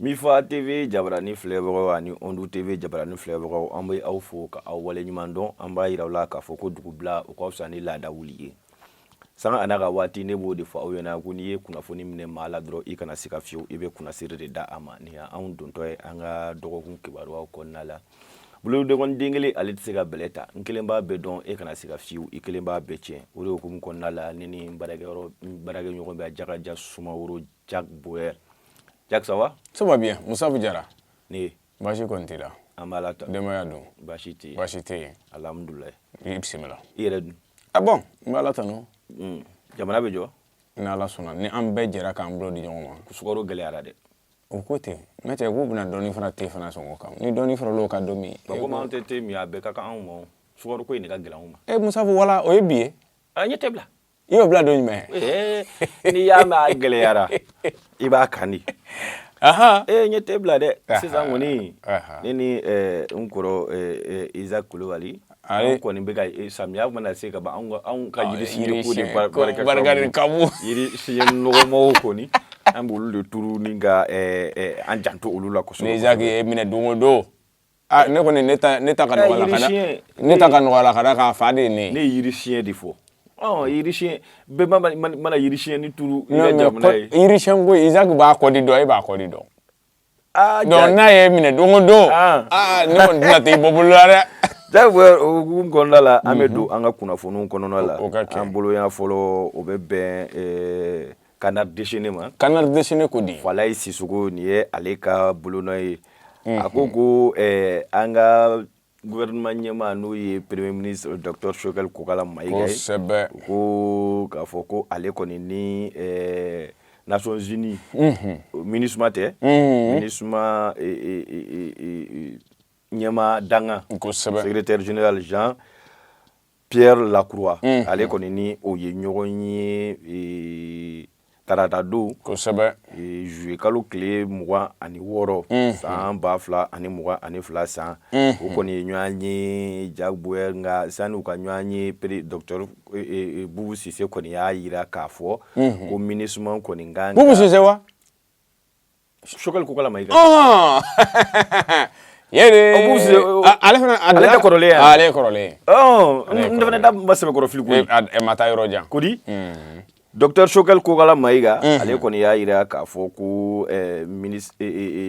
Mifa TV jabarani filɛbagaw ani Ondu TV jabarani filɛbagaw an bɛ aw fo ka aw waleɲuman dɔn an b'a yira aw la k'a fɔ ko dugubila o ka fisa ni laada wuli ye sanga a n'a ka waati ne b'o de fɔ aw ɲɛna ko n'i ye kunnafoni minɛ maa la dɔrɔn i kana sika fiyewu i bɛ kunnasiri de da a ma nin y'anw dontɔ ye an ka dɔgɔkun kibaruyaw kɔnɔna la bolokɔnin den kelen ale tɛ se ka bɛlɛ ta n kelen b'a bɛɛ dɔn e kana sika fiyewu i kelen b'a bɛɛ tiɲɛ o de hukumu kɔnɔna la ne ni baarakɛɲɔgɔn bɛ jakaja sumaworo jack boyer jack ça va ça va bien musabu jara ne baasi kɔni t'i la an b'ala tanu denbaya don baasi tɛ yen baasi tɛ yen alihamudulilayi i bisimila i yɛrɛ dun ah bon n b'ala tanu Mm. jamana bɛ jɔ ni ala sɔnna ni an bɛɛ jɛra k'an bolo di ɲɔgɔn ma sukaro gɛlɛyara dɛ o ko ten n'a tɛ k'u bɛna dɔɔni fara te fana sɔngɔ kan ni dɔɔni farala o kan don min ba komi anw tɛ te min a bɛɛ ka kan anw ma o. sukaro ko in de ka gɛlɛn anw ma e musabu wala o ye bi ye a n ye te bila i y'o bila don jumɛn n'i y'a mɛn a gɛlɛyara i b'a kan di ee n ye te bila dɛ sisan kɔni ne ni n kɔrɔ Isaac kulubali an kɔni bɛ ka samiya mana se ka ban anw ka yiri siɲɛ ko de barika ka bon yiri siɲɛ nɔgɔmanw kɔni an b'olu de turu ni ka an janto olu la kosɛbɛ ni Isaac y'i minɛ don o don Ah, ne kɔni ne ta ne ta ka nɔgɔya ka ne ta ka nɔgɔya la ka da k'a fa de ye ne ne ye yiri siɲɛ de fɔ ɔ yiri siɲɛ bɛɛ mana yiri siɲɛ ni turu i ka jamana ye yiri siɲɛ ko Isaac b'a kɔdi dɔn e b'a kɔdi dɔn ah, donc n'a y'i minɛ don o don ah. aa ne kɔni tɛna t'i bɔ bolo la dɛ Jack Boyer o hukumu kɔnɔna la an bɛ mhm. don an ka kunnafoniw kɔnɔna la an boloya fɔlɔ o bɛ bɛn eh, Canard déchaîné ma, canard déchaîné ko di, Falaye Sissoco nin ye ale ka bolonɔ ye, unhun, a ko ko ɛɛ an ka gouvernement ɲɛmaa n'o ye premier ministre docteur Choguel Kokala Mayiga ye, kosɛbɛ, ko k'a fɔ ko ale kɔni ni ɛɛ Nations Unies, unhun, Minusma tɛ, unhun, Minusma ee ee ee ee ɲɛmaa dankan, kosɛbɛ, secrétaire général Jean Pierre Lacroix unhun, ale kɔni ni o ye ɲɔgɔn ye ee, tarata don kosɛbɛ ee, juillet kalo tile mugan ani wɔɔrɔ unhun, san ba fila ani mugan ani fila san unhun, o kɔni ye ɲɔgɔn ye Jack Boyer nka sani u ka ɲɔgɔn ye pere docteur e, e, e, Bubu Sise kɔni y'a yira k'a fɔ unhun, ko minusima kɔni ka kan ka Bubu Sise wa? Choguel Kokala Mayiga ɔn yɛrɛ ale fana ale tɛ kɔrɔlen ye ale ye kɔrɔlen ye ɔn n fana da ma sɛbɛkɔrɔ fili koyi ɛ ma taa yɔrɔ jan ko di docteur Choguel Kokala Mayiga ale kɔni y'a yira k'a fɔ ko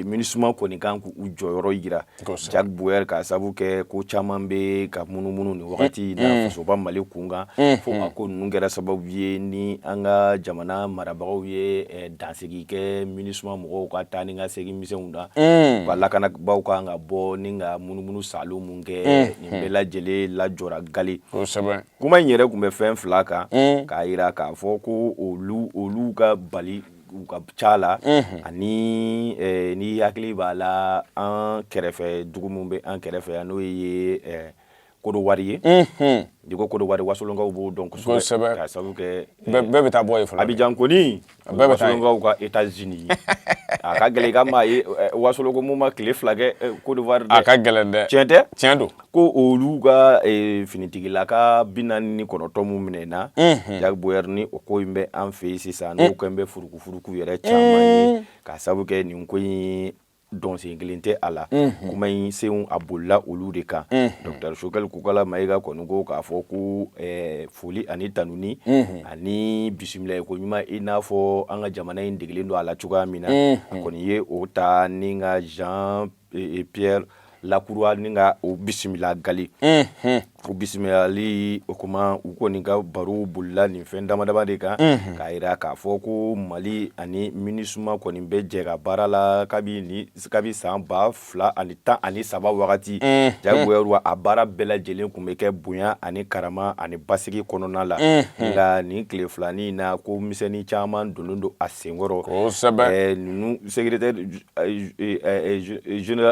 MINUSMA kɔni kan k'u jɔyɔrɔ yira Jack Bauer k'a sabu kɛ ko caman bɛ ka munumunu nin wagati in na mm. fasoba Mali kunkan mm. fo a ko ninnu kɛra sababu ye ni an ka jamana marabagaw ye eh, dansigi kɛ MINUSMA mɔgɔw ka taa ni ka segin misɛnw na mm. ka lakanabaaw kan ka bɔ ni ka munumunu salo mun kɛ nin bɛɛ lajɛlen lajɔra gali kuma in yɛrɛ tun bɛ fɛn fila kan k'a yira k'a fɔ ko olu olu ka bali u ka ca la ani ni hakili b'a la an kɛrɛfɛ dugu min bɛ an kɛrɛfɛ yan n'o ye Kodowari ye i ko Kodowari wasolonkaw b'o dɔn kosɛbɛ sabu kɛ bɛɛ bɛ taa bɔ Abidjan kɔni wasolonkaw ka États-Unis a ka gɛlɛn ka maa ye wasolon ko mun ma tile fila kɛ Kodowari a ka gɛlɛn tiɲɛ tɛ tiɲɛ don ko olu ka eh, finitigilaka bi naani ni kɔnɔntɔn mun minɛna mhm. Jack Bauer ni o ko in bɛ an fɛ yen sisan n'o eh. kɛlen bɛ furukufuruku yɛrɛ caman ye eh. k'a sabu kɛ nin ko in dɔnsen kelen tɛ a la mhm. kuma in senw a bolila olu de kan mhm. docteur Choguel Kokala Mayiga kɔni ko k'a fɔ ko foli ani tanuni ani bisimila ko ɲuman i n'a fɔ an ka jamana in degelen don a la cogoya min na a kɔni ye o ta ni ka Jean ee Pierre Lacroix ni ka o bisimila gali o bisimilali o kuma u kɔni ka baro bolila nin fɛn damadama de kan k'a yira k'a fɔ ko mali ani MINUSMA kɔni bɛ jɛ ka baara la kabi kabi san ba fila ani tan ani saba wagati Jack Bauer a baara bɛɛ lajɛlen kun bɛ kɛ bonya ani karama ani basigi kɔnɔna la nka nin tile filanin na ko misɛnnin caman donnen don a senkɔrɔ ninnu seg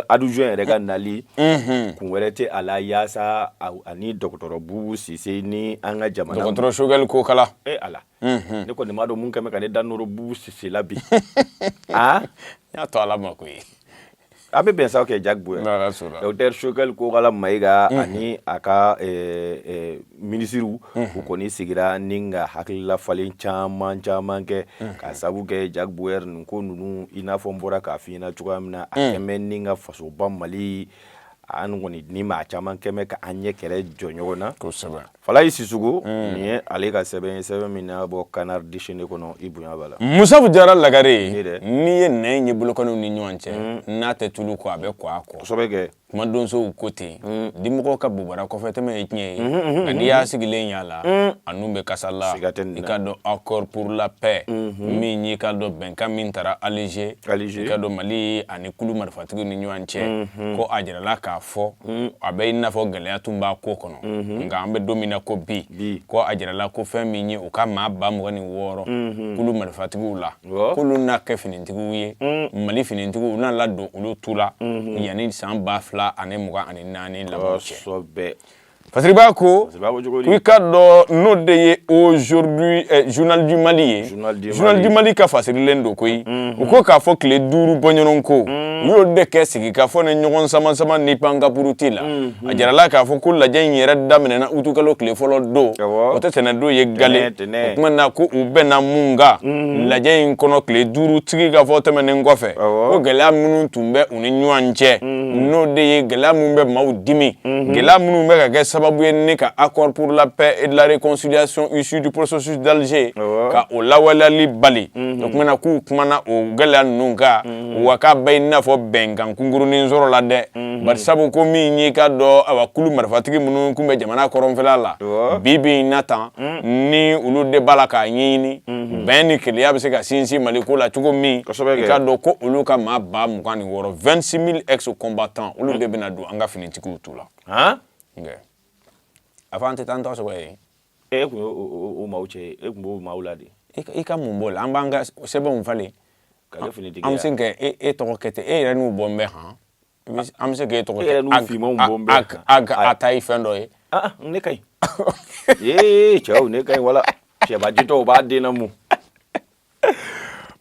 adjoint yɛrɛ ka nali kun wɛrɛ tɛ a la yaasa ani dɔgɔtɔrɔ Boubou Cissé ni an ka jamana dɔgɔtɔrɔ Choguel Kokala e a la ne kɔni m'a dɔn mun kɛmɛ ka ne da nɔrɔ Boubou Cissé la bi aa n y'a to ala ma ko ye a bɛ bɛn sa kɛ Jack Bauer docteur Choguel Kokala Mayiga ani a ka minisiriw u kɔni sigira ni ka hakililafalen caman caman kɛ k'a sabu kɛ Jack Bauer nin ko ninnu i n'a fɔ n bɔra k'a fɔ i ɲɛna cogoya min na a kɛmɛ ni ka fasoba mali an kɔni ni maa caman kɛmɛ ka an ɲɛ kɛlɛ jɔ ɲɔgɔn na kosɛbɛ Falayi Sisoko nin ye ale ka sɛbɛn sɛbɛn min na bɔ Canard Déchaîné kɔnɔ i bonya Bala Musa Jara lagare ye dɛ n'i ye nɛn ye bolokɔniw ni ɲɔgɔn cɛ n'a tɛ tulu kɔ a bɛ kɔgɔ kɔ kosɛbɛ kɛ kuma donsow ko ten dimɔgɔ ka bobara kɔfɛtɛmɛ ye tiɲɛ ye nka n'i y'a sigilen y'a la a nun bɛ kasa la Siga tɛ nin na. i ka dɔn accord pour la paix min y'i ka dɔn bɛnkan min tara Alger Alger. i ka dɔn Mali ani kulu marifatigiw ni ɲɔgɔn cɛ ko a jirala k'a fɔ a bɛ i n'a fɔ gɛlɛya tun b'a ko kɔnɔ nka an bɛ don min na ko bi Bi. ko a jirala ko fɛn min ye u ka maa ba mugan ni wɔɔrɔ kulu marifatigiw la k'olu na kɛ finitigiw ye mm. mali finitigiw n'a ladon olu tu la mm-hmm. yanni san ba fila ani mugan ani naani laban cɛ fasiribaa ko i ka dɔn n'o de ye aujourd'hui eh, journal du mali ye journal du mali ka fasirilen don koyi mm-hmm. u ko k'a fɔ tile duuru bɔɲɔgɔn ko mm. u y'o de kɛ sigi ka fɔ ni ɲɔgɔn samasama ni pankapuruti la mm-hmm. a jirala k'a fɔ ko lajɛ in yɛrɛ daminɛna utukalo tile fɔlɔ don o tɛ tɛnɛ don ye gale o tuma na ko u bɛnna mun kan lajɛ in kɔnɔ tile duuru sigi ka fɔ tɛmɛnen kɔfɛ ko gɛlɛya minnu tun bɛ u ni ɲɔgɔn cɛ n'o de ye gɛlɛya minnu bɛ maaw dimi gɛlɛya minnu bɛ ka kɛ sababu ye ni ka accord pour la paix et de la réconciliation issue du processus d'Alger ka o lawaleyali bali o tuma na k'u kumana o gɛlɛya ninnu kan wa k'a bɛ i n'a fɔ bɛnkan kunkurunin sɔrɔla dɛ bari sabu ko min y'i ka dɔn awa kulu marifatigi minnu tun bɛ jamana kɔrɔnfɛla la bi bi in na tan ni olu de b'a la k'a ɲini bɛn ni kelenya bɛ se ka sinsin mali ko la cogo min ka dɔn ko olu ka maa ba mugan ni wɔɔrɔ vingt-six mille ex-combattants olu de bɛna don an ka finitigiw tu la a fɔ an tɛ taa an tɔgɔ sɔrɔ ye e tun o maaw cɛ e tun b'o maaw la de i ka mun b'o la an b'an ka sɛbɛnw falen an bɛ se k'e tɔgɔ kɛ ten e yɛrɛ n'u bɔ n bɛ hɔn An bɛ se k'e tɔgɔ a ta ye fɛn dɔ ye ne ka ee cɛw ne ka ɲi wala cɛba jitɔ b'a den namɔ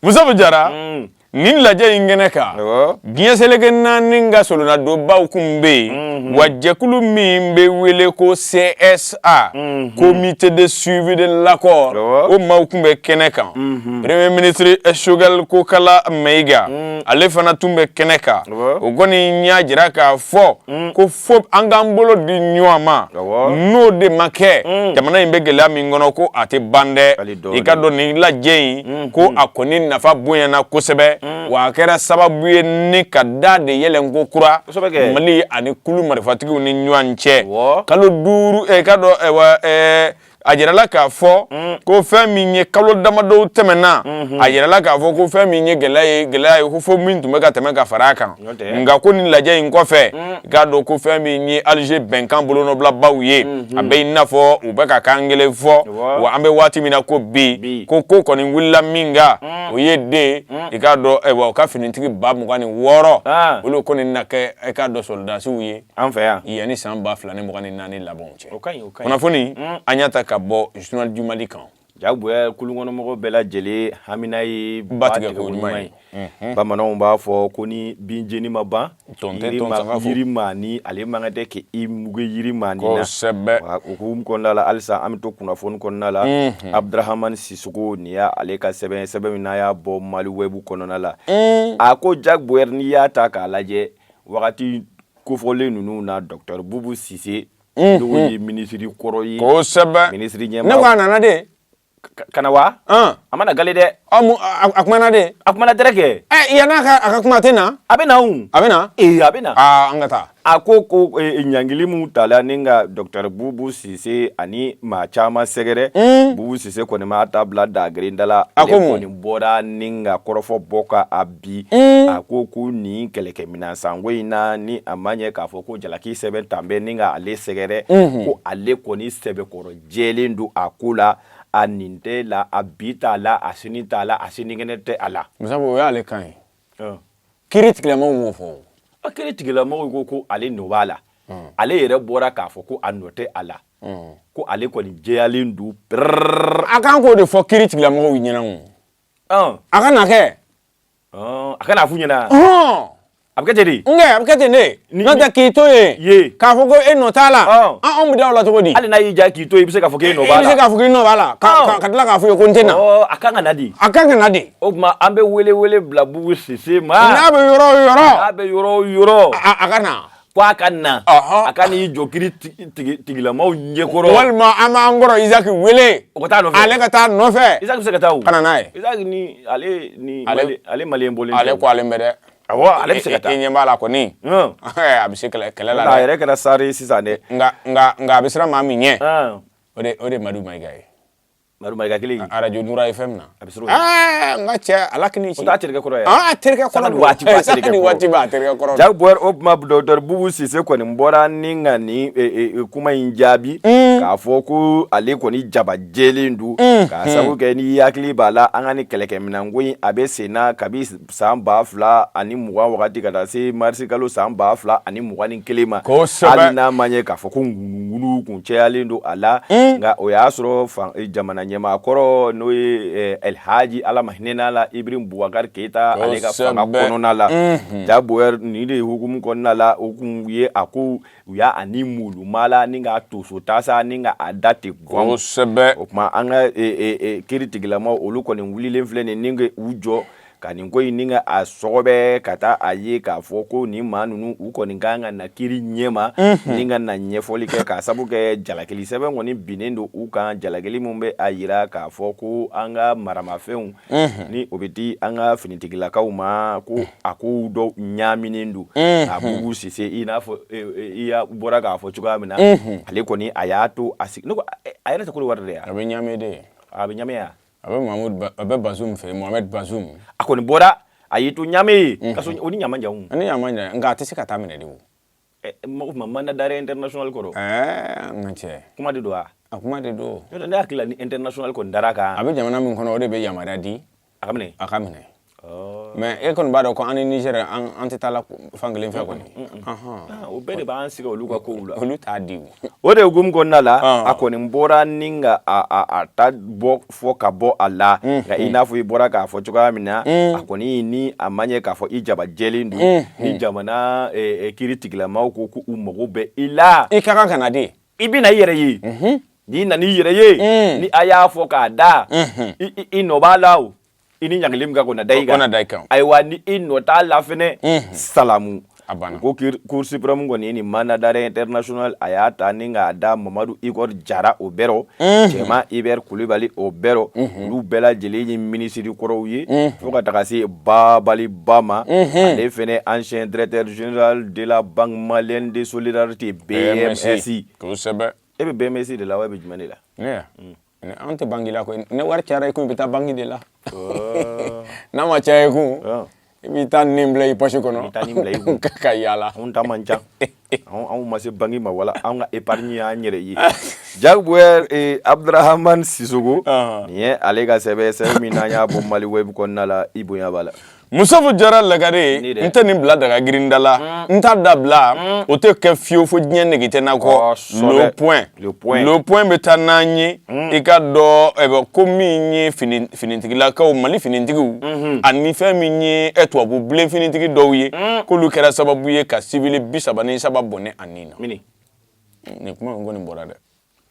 Musa Jara nin lajɛ in kɛnɛ kan diɲɛ seleke naani ka solonadonbaw kun bɛ yen wa jɛkulu min bɛ wele ko CS A comité de suivi de l'accord o maaw tun bɛ kɛnɛ kan premier ministre Choguel Kokalla Maiga ale fana tun bɛ kɛnɛ kan o kɔni y'a jira k'a fɔ ko fo an k'an bolo di ɲɔgɔn ma n'o de ma kɛ jamana in bɛ gɛlɛya min kɔnɔ ko a tɛ ban dɛ i ka dɔn nin lajɛ in ko a kɔni nafa bonyana kosɛbɛ wa a kɛra sababu ye ni ka da de yɛlɛ kokura mali ani kulu marifatigiw ni ɲɔgɔn cɛ kalo duuru eh, ka dɔn eh, eh, a jirala k'a fɔ mm. ko fɛn min ye kalo damadɔ tɛmɛnna mm-hmm. a jirala k'a fɔ ko fɛn min ye gɛlɛya ye gɛlɛya ye ko fɔ min tun bɛ ka tɛmɛ ka fara a kan nka ko ni lajɛ in kɔfɛ mm. i k'a dɔn ko fɛn min ye Alger bɛnkan bolonɔbilabaaw ye mm-hmm. a bɛ i n'a fɔ u bɛ ka kan kelen fɔ wa an bɛ waati min na ko bi ko ko kɔni wulila min kan mm. o ye de mm. i k'a dɔn ayiwa u ka finitigi ba mugan ni wɔɔrɔ ah. olu kɔni na kɛ i k'a dɔn sɔrɔdasiw ye an fɛ yan yanni san ba fila ni mugan ni naani laban cɛ kunnafoni an y'a ta ka bɔ journal du mali kan Jack Bauer kulunkɔnɔmɔgɔw bɛɛ lajɛlen hamina ye ba tigɛ ko ɲuman ye unhun bamananw b'a fɔ ko ni bin jeni ma ban tɔn tɛ tɔn sanga fo yiri maa ni ale mankan tɛ kɛ i muge yiri maa ni na kosɛbɛ wa o hukumu kɔnɔna la halisa an bɛ to kunnafoni kɔnɔna la unhun Abdrahamane Sissoco nin ye ale ka sɛbɛn ye sɛbɛn min n'a y'a bɔ Mali web kɔnɔna la uun a ko Jack Bauer n'i y'a ta k'a lajɛ wagati kofɔlen ninnu na docteur Boubou Cisse ye minisiri kɔrɔ ye minisiri ɲɛmaa ne a nana dɛ ka na wa a mana ga dɛ a kuma na dɛ a kuma na dɛrɛ kɛ yan n'a a ka kuma tɛ na a bɛ na a bɛ na ee a bɛ na an ka taa a ko ko ɲangili min tala ni ka docteur bubu sise ani maa caman sɛgɛrɛ bubu sise kɔni m'a ta bila dagerenda la a kɔni bɔra ni ka kɔrɔfɔ bɔ ka bi a ko ko nin kɛlɛkɛminɛn san ko in na ni a ma ɲɛ k'a fɔ ko jalaki sɛbɛn talen bɛ ni ka ale sɛgɛrɛ ko ale kɔni sɛbɛkɔrɔ jɛlen don a ko la a nin tɛ la a bi t'a la a sini t'a la a sinikɛnɛ tɛ a la o y'ale kan ye kiri tigɛlamɔgɔw fɔ a kiri tigɛlamɔgɔw ko ko ale nɔ b'a la ale yɛrɛ bɔra k'a fɔ ko a nɔ tɛ a la ko ale kɔni jɛyalen don a kan k'o de fɔ kiri tigɛlamɔgɔ ɲɛna a ka na kɛ a ka n'a fɔ u ɲɛna a bɛ kɛ ten n a bɛ kɛ ten ne n'o tɛ k'i to yen k'a fɔ ko e nɔ t'a la anw bɛ da a la cogo di hali n'a y'i ja k'i to i bɛ se k'a fɔ e nɔ bɛ se k'a fɔ i nɔ b'a la ka tila k'a fɔ ko n tɛ na a kan ka na dɛ a kan ka na dɛ o tuma an bɛ wele wele bila bubu sise ma n'a bɛ yɔrɔ yɔrɔ a bɛ yɔrɔ yɔrɔ a ka na ko a ka na a ka n'i jɔ kiri tigɛlamaaw ɲɛkɔrɔ walima an b'an kɔrɔ Isaki wele o ka taa nɔfɛ ale ka taa nɔfɛ Isaki bɛ se ka taa o ka na n'a ye Isaki ni ale ni ale maliyɛn bɔlen tɛ ale ko ale mɛ dɛ awɔ ale bɛ se ka taa i ɲɛ b'a la kɔni a bɛ se kɛlɛ kɛlɛ la dɛ a yɛrɛ kɛra sari ye sisan dɛ nka nka nka a bɛ siran maa min ɲɛ o de o de Madu Mayiga ye Kelen arajo FM na a bɛ n ka cɛ ala a terikɛ kɔrɔ terikɛ bubu sise kɔni bɔra ni ka nin kuma in jaabi k'a fɔ ko ale kɔni jaba jɛlen don ka sabu kɛ n'i hakili b'a la an ka nin kɛlɛkɛminɛn ko in a bɛ senna kabi san ba fila ani mugan wagati ka taa se marisi kalo san ba fila ani mugan ni kelen ma hali n'a ma ɲɛ k'a fɔ ko ŋunuŋunu kun cɛyalen don a la hmm. nka o y'a sɔrɔ eh, jamana ɲɛmaa kɔrɔ n'o ye eh, alhaji ala ma hinɛna la ibrahim bubakari keyita ale ka fanga kɔnɔna la hmm. ja boyɛri nin de hukumu kɔnɔna la o kun ye a ko u y'a ani mulu mala ni ka toso tasa ni ka a da ten gɔn kosɛbɛ o tuma an ka e, e, e, kiri tigilama olu kɔni wulilen filɛ nin ni ka u jɔ ka nin ko in ni ka a sɔgɔbɛ ka taa a ye k'a fɔ ko nin maa ninnu u kɔni ka kan ka na kiri ɲɛ ma mhm. ni ka na ɲɛfɔli kɛ k'a sabu kɛ jalakili sɛbɛn kɔni binnen don u kan jalakili min bɛ a yira k'a fɔ ko an ka maramafɛnw ni o bɛ di an ka finitigilakaw ma ko a ko dɔ ɲaminen don a bubu sise i n'a fɔ i bɔra k'a fɔ cogoya min na ale kɔni a y'a to a sigi a yɛrɛ tɛ kɔdiwari de a bɛ ɲamɛ de a bɛ ɲamɛ yen a bɛ a bɛ bazum fɛ yen mohamed bazum a kɔni bɔra a y'i to ɲamɛ ye gawo ni ɲamɛ man jan nka a tɛ se ka taa a minɛ de O tuma mandat d'arrêt international kɔrɔ n ka cɛ kuma de don wa a kuma de don ne hakili la ni international ko dara a kan a bɛ jamana min kɔnɔ o de bɛ yamaruya di a ka minɛ a ka minɛ mais e kɔni b'a dɔn ko an ni nizɛri an tɛ taa la fan kelen fɛ kɔni o bɛɛ de b'an sigi olu ka ko la olu t'a di o de hukumu kɔnɔna la a kɔni bɔra ni ka ta bɔ fɔ ka bɔ a la nka i n'a fɔ i bɔra k'a fɔ cogoya min na a kɔni ni a ma ɲɛ k'a fɔ i jaba jɛlen don ni jamana kiri tigilamaw ko ko u mago bɛ i la i ka kan ka na de i bɛ na i yɛrɛ ye n'i nana i yɛrɛ ye ni a y'a fɔ k'a da i nɔ b'a la o i ni ɲangili min ka kan o na da i kan da i kan ayiwa ni i nɔ t'a la fɛnɛ salamu a banna ko cour suprême kɔni ni mandat d'arrêt international a y'a ta ni k'a da mamadu igor jara o bɛɛ rɔ cɛman ibɛr kulibali o bɛɛ rɔ olu bɛɛ lajɛlen ye minisiri kɔrɔw ye fo ka taga se babali ba ma ale fɛnɛ ancien directeur général de la banque malienne de solidarité bmsi kosɛbɛ e bɛ bmsi de la wa e bɛ jumɛn de la An tɛ banki la koyi ni wari cayara i kun i bɛ taa banki de la n'a ma caya i kun i bɛ taa ni bila i posi kɔnɔ taa bila i kun ka yaala an ta man ca anw ma se banki ma wala an ka épargne y' an yɛrɛ ye ja abuduramani sisɔkɔ nin ye ale ka sɛbɛn min an y'a bɔ maliweb kɔnɔna la i bonya b'a la musofu jara lagare n tɛ nin bila daga girinda la mm. n t'a da bila mm. o tɛ kɛ fiyewu fo diɲɛ nege tɛ n na kɔ le point le point bɛ taa n'an ye mm. i ka dɔ eh, ko min ye finitigilakaw mali finitigiw mm-hmm. ani fɛn min ye eh, tubabu bilen finitigi dɔw ye k'olu kɛra sababu ye ka siwili bi saba ni saba bɔnɛ a ni na nin kuma in kɔni bɔra dɛ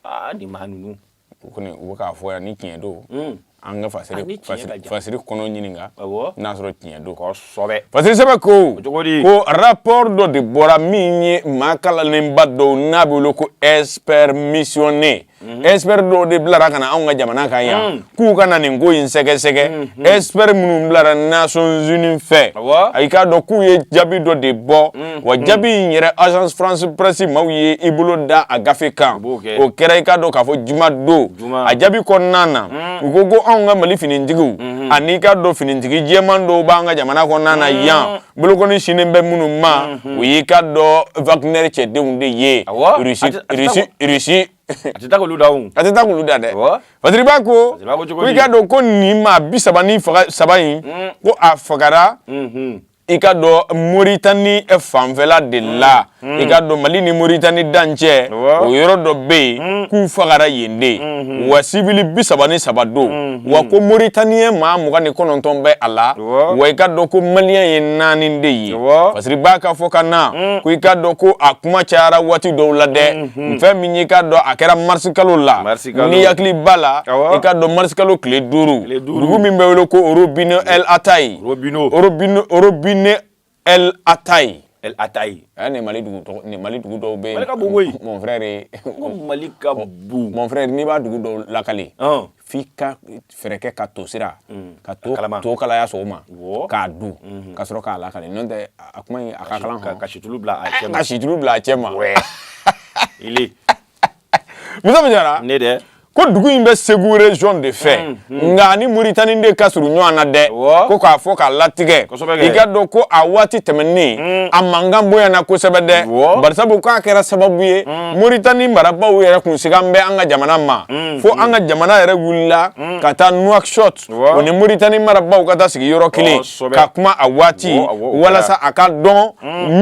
aa nin maa ninnu u kɔni u bɛ k'a fɔ yan ni tiɲɛ don hmm. an ka fasiri ah, fasiri fasiri kɔnɔ ɲininka n'a sɔrɔ tiɲɛ don kosɛbɛ fasiri sɛbɛ ko ko rapport dɔ de bɔra min ye maa kalannenba dɔw n'an b'u wele ko expert missionné mhm. expert dɔw de bilara ka na an ka jamana kan yan hmm. k'u ka na nin ko in sɛgɛsɛgɛ mhm. expert minnu bilara nations unies fɛ i k'a dɔn k'u ye jaabi dɔ de bɔ mhm. wa jaabi in yɛrɛ agence france presse maaw ye i bolo da a gafe kan o kɛra i k'a dɔn k'a fɔ juma don a jaabi kɔnɔna na mhm. u ko ko an ka mali finitigiw an'i k'a dɔn finitigi jɛman dɔw b'an ka jamana kɔnɔna na yan bolokɔni sinnen bɛ minnu ma o y'i k'a dɔn wagner cɛdenw de ye rusi a tɛ taa k'olu dan o a tɛ taa k'olu dan dɛ Fasiriba ko ko i k'a dɔn ko nin maa bi saba ni saba in mm. ko a fagara mm-hmm. i k'a dɔn Moritani fanfɛla de mm. la mm. i k'a dɔn Mali ni Moritani dancɛ o yɔrɔ dɔ bɛ yen k'u fagara yen de mm-hmm. wa sibili bi saba ni saba don mm-hmm. wa ko Moritaniyɛn maa mugan ni kɔnɔntɔn bɛ a la wa i k'a dɔn ko Maliyɛn ye naani de ye Fasiriba k'a fɔ ka na ko i k'a dɔn ko a kuma cayara waati dɔw la dɛ. Hmm. fɛn min y'i k'a dɔn a kɛra marisi kalo la n'i hakili b'a la i k'a dɔn marisi kalo tile duuru dugu min bɛ wele ko robinet el ataye robinet el ataye el ataye a nin mali dugu tɔgɔ nin mali dugu dɔw bɛ yen mali ka bon koyi mon frère ko mali ka bon mon frère n'i b'a dugu dɔw lakali f'i ka fɛɛrɛ kɛ ka to sira mm. ka to to kalaya sɔgɔma k'a dun mm-hmm. ka sɔrɔ k'a lakale n'o tɛ a kuma in a ka kalan hɔn ka situlu bila a cɛ ma ka situlu bila a cɛ ma ile muso min jara ne dɛ ko dugu in bɛ segu région de fɛ mm-hmm. nka a ni moritani de ka surun ɲɔgɔn na dɛ ko k'a fɔ k'a latigɛ i k'a dɔn ko a waati tɛmɛnen mm. a mankan bonyana kosɛbɛ dɛ barisabu k'a kɛra sababu ye mm. moritani marabaaw yɛrɛ kun sigan bɛ an ka jamana ma fo an ka jamana yɛrɛ wulila ka taa nouakchott o ni moritani marabaaw ka taa sigi yɔrɔ kelen ka kuma a waati walasa a ka dɔn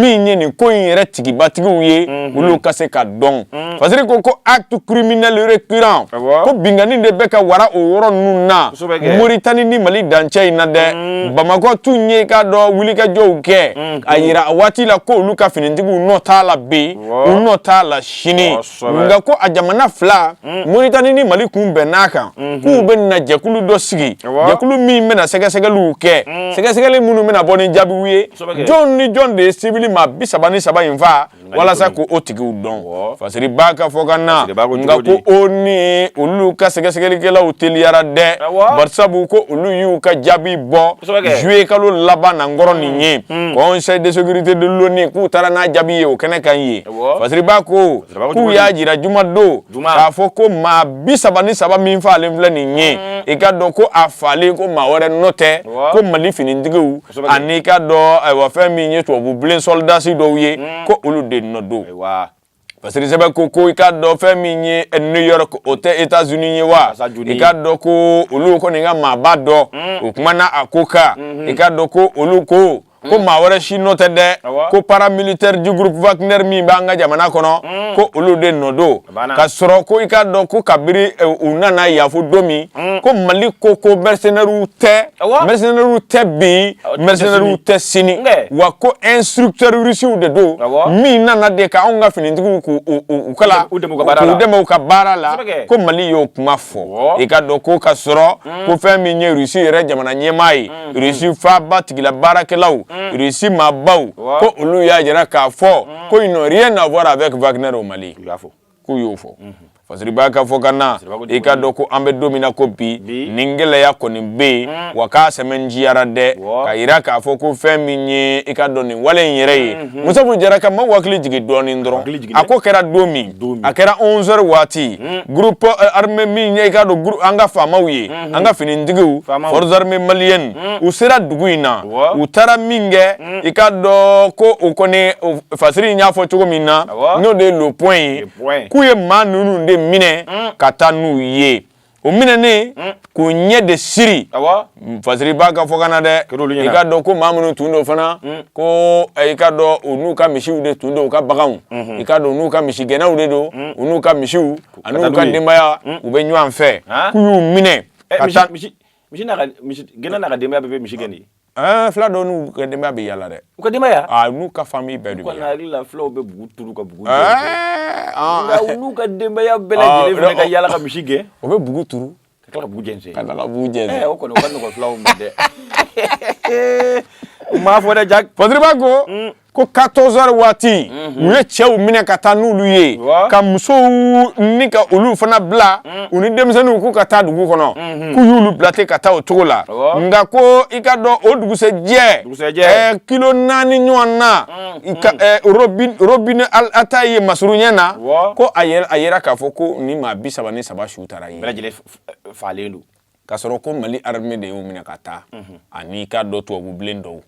min ye nin ko in yɛrɛ tigibatigiw ye olu ka se ka dɔn fasiri ko ko acte criminel récurrent ko binkanni de bɛ ka wara o yɔrɔ ninnu na moritani ni mali dancɛ in na dɛ bamakɔ tun y'i k'a dɔn wulikajɔw kɛ a yira a waati la ko olu ka finitigiw nɔ t'a la bi u nɔ t'a la sini nka ko a jamana fila mm. moritani ni mali kun bɛnn'a kan mm-hmm. k'u bɛ na jɛkulu dɔ sigi jɛkulu min bɛna sɛgɛsɛgɛliw kɛ mm. sɛgɛsɛgɛli minnu bɛna bɔ ni jaabiw ye jɔn ni jɔn de ye sibili maa bi saba ni saba in fa walasa ko o tigiw dɔn fasiriba k'a fɔ ka na nka ko onu olu ka sɛgɛsɛgɛlikɛlaw teliyara dɛ barisabu ko olu y'u ka jaabi bɔ juillet kalo laban na an kɔrɔ nin ye Hmm. conseil de sécurité de l'ONU k'u taara n'a jaabi ye o kɛnɛ kan ye fasiriba ko k'u y'a jira juma don k'a fɔ ko maa bi saba ni saba min falen filɛ nin ye hmm. i ka dɔn ko a falen ko maa wɛrɛ nɔ tɛ ko mali finitigiw ani i ka dɔn ayiwa fɛn min ye tubabu bilen sɔlidasi dɔw ye hmm. ko olu de nɔ don parce que sɛbɛn ko ko i ka dɔn fɛn min ye new york o tɛ états unis ye wa i ka dɔn ko olu kɔni ka maaba dɔ mm. o kumana a ko kan mm-hmm. i ka dɔn ko olu ko ko mm. maa wɛrɛ si nɔ tɛ dɛ ko paramilitaire du groupe wagner min b'an ka jamana kɔnɔ mm. ko olu de nɔ don ka sɔrɔ ko i ka dɔn ko kabiri eh, u nana yafo don min Mm. ko mali ko ko mercenaires tɛ mercenaires tɛ bi mercenaires tɛ sini wa ko instructeurs russiw de don min nana de ka anw ka finitigiw k'u kalan k'u dɛmɛ u ka baara la ko mali y'o kuma fɔ i ka dɔn ko ka sɔrɔ mm. ko fɛn min ye rusi yɛrɛ jamana ɲɛmaa ye mm. rusi faaba tigila baarakɛlaw rusi maabaw ko olu y'a jira k'a fɔ ko ils n'ont rien à voir avec Wagner au Mali. k'u y'o fɔ fasiriba ka fɔkan na i ka dɔn ko an bɛ don min na ko bi nin gɛlɛya kɔni bɛ yen mm. wa k'a sɛmɛnjiyara dɛ ka yira k'a fɔ ko fɛn min ye i ka dɔn nin wale in yɛrɛ ye mm-hmm. Musabu Jara ka maa hakili jigin dɔɔnin dɔrɔn a ko kɛra don min a kɛra 11 heures waati mm. groupe armé min ye i ka dɔn an ka faamaw ye mm-hmm. an ka finitigiw forces armées maliennes mm. u sera dugu in na u taara min kɛ i ka dɔn ko o kɔni fasiri in y'a fɔ cogo min na n'o de ye le point ye k'u ye maa ninnu de minɛ mm. ka taa n'u ye o minɛnen mm. k'u ɲɛ de siri fasiriba ka fɔkan na dɛ i ka dɔn ko maa minnu tun don fana mm. ko eh, i ka dɔn u n'u ka misiw de tun don u ka baganw mm-hmm. i ka dɔn u n'u ka misigɛnnaw de don u n'u ka misiw ani u ka denbaya u bɛ ɲɔgɔn fɛ k'u y'u minɛ eh, ka taa misigɛnna n'a ka denbaya bɛɛ bɛ misi gɛn de Ɛɛ fula dɔw n'u ka denbaya bɛ yala dɛ u ka denbaya a n'u ka famille bɛɛ de bɛ yala hakili la fulaw bɛ bugu turu ka bugu nka n'u ka denbaya bɛɛ lajɛlen fana ka yala ka misi gɛn o bɛ bugu turu ka tila ka bugu jɛnsɛn ka tila ka bugu jɛnsɛn o kɔni o ka nɔgɔ fulaw ma dɛ n m'a fɔ dɛ Jack fasiriba ko ko 14 heures waati u ye cɛw minɛ ka taa n'olu ye ka musow ni ka olu fana bila u ni denmisɛnninw k'u ka taa dugu kɔnɔ k'u y'olu bila ten ka taa o cogo la nka ko i ka dɔn o dugusɛjɛ kilo naani ɲɔgɔn na Robinet Ataye masurunya na ko a yera k'a fɔ ko ni maa bi saba ni saba su taara ye falen don ka sɔrɔ ko mali arme de y'u minɛ ka taa mhm. ani i ka dɔn tubabubilen dɔw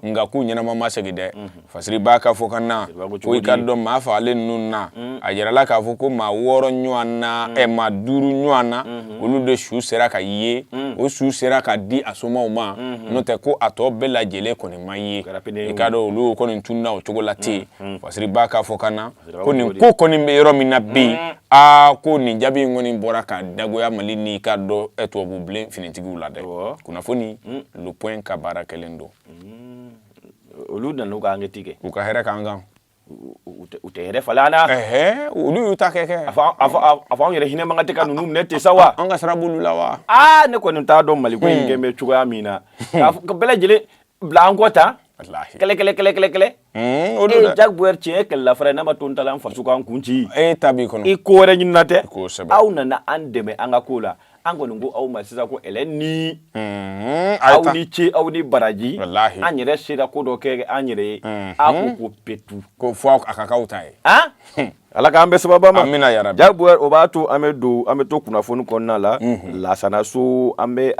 nka k'u ɲɛnama ma segi dɛ mhm. fasiri b'a ka fɔ ka na ko i ka dɔn maa fagalen ninnu na mhm. a yirala k'a fɔ ko maa wɔɔrɔ ɲɔgɔn na ɛ maa duuru ɲɔgɔn na olu de su sera ka ye o su sera ka di a somaw ma n'o tɛ ko a tɔ bɛɛ lajɛlen kɔni ma ye i ka dɔn olu kɔni tununa o cogo la ten fasiri b'a ka fɔ ka na ko nin ko kɔni bɛ yɔrɔ min na bi yen aa ko nin jaabi in kɔni bɔra ka dagoya mali ni ka dɔn tubabu bilen finitigiw la dɛ kunnafoni le point ka baara kɛlen don olu nana ka ankɛti kɛ u ka hɛrɛ k'an kan u tɛ yɛrɛ falen an na olu y'u ta kɛ kɛ a fɔ anw yɛrɛ hinɛ man kan tɛ ka ninnu minɛ ten sa wa an ka sira b'olu la wa aa ne kɔni t'a dɔn mali ko in kɛlen bɛ cogoya min na k'a fɔ bɛɛ lajɛlen bila an kɔ tan walahi kɛlɛ kɛlɛ kɛlɛ kɛlɛ kɛlɛ mm, o don dɛ jaguar tiɲɛ ye kɛlɛla fara ye n'a ma to n ta la an faso k'an kun ci e ta b'i kɔnɔ i ko wɛrɛ ɲinina tɛ kosɛbɛ aw nana an dɛmɛ an ka ko la an kɔni ko aw ma sisan ko ɛlɛ ni mm, a ye aw ni ce aw ni baraji Walahi. an yɛrɛ sera ko dɔ kɛ an yɛrɛ ye a ko ko petu ko fɔ a ka k'aw ta ye han Ala k'an bɛn sababu ma amina yarabi jaguar o b'a to an bɛ don an bɛ to kunnafoni kɔnɔna la lasana so an bɛ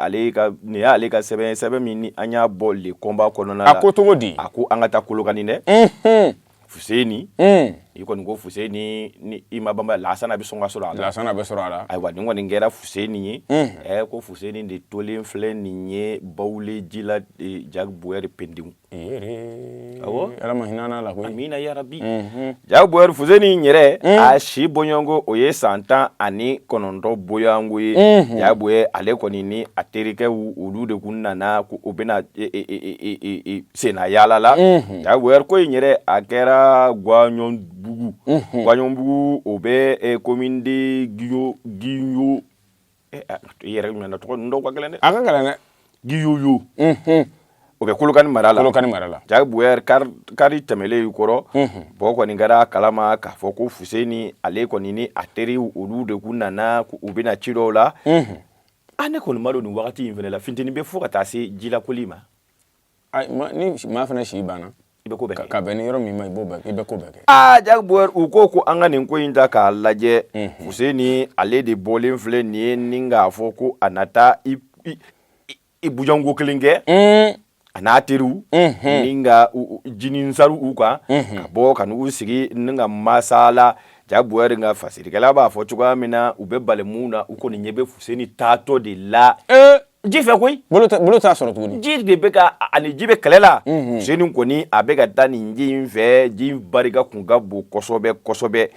nin y'ale ka sɛbɛn sɛbɛn min an y'a bɔ le combat kɔnɔna la a ko cogo di a ko an ka taa kolokani dɛ fuseni i kɔni ko fuseni ni i ma banba lasana bɛ sɔn ka sɔrɔ a la lasana bɛ sɔrɔ a la ayiwa nin kɔni kɛra fuseni ye ɛ ko fuseni de tolen filɛ nin ye bawule ji la jaguar pdi ala ma hinɛ la koyi amina yarabi jaguar fuseni yɛrɛ a si bɔɲɔgɔnko o ye san tan ani kɔnɔntɔn bɔɲɔgɔnko ye jaguar ale kɔni ni a terikɛw olu de kun nana ko u bɛna senna yaala la jaguar ko in yɛrɛ a kɛra gwaɲɔnbugu gwaɲɔnbugu o bɛ commune de giyoyo i yɛrɛ ɲɔgɔn na tɔgɔ dɔw ka gɛlɛn dɛ a ka gɛlɛn dɛ giyoyo o bɛ kolokani mara la kolokani mara la jaguar kari tɛmɛlen kɔrɔ bɔ kɔni kɛra kalama k'a fɔ ko fuseni ale kɔni ni a teri olu de kun nana u bɛna ci dɔw la an ne kɔni m'a dɔn nin wagati in fana la funteni bɛ fo ka taa se jilakoli ma ni maa fana si banna i bɛ ko bɛɛ kɛ ka bɛn ni yɔrɔ min ma i b'o bɛɛ kɛ i bɛ ko bɛɛ kɛ aa jaguar u ko ko an ka nin ko in ta k'a lajɛ fuseni ale de bɔlen filɛ nin ye ni k'a fɔ ko a na taa i i bujanko kelen kɛ a n'a teriw ni ka jininsari u kan ka bɔ ka n'u sigi ni ka masala jaguar ka fasirikɛla b'a fɔ cogoya min na u bɛ balimamu na u kɔni ɲɛ bɛ fuseni taatɔ de la ji fɛ koyi bolo t'a sɔrɔ tuguni ji de bɛ ka a ni ji bɛ kɛlɛ la fuseni kɔni a bɛ ka taa nin ji in fɛ ji barika kun ka bon kosɛbɛ kosɛbɛ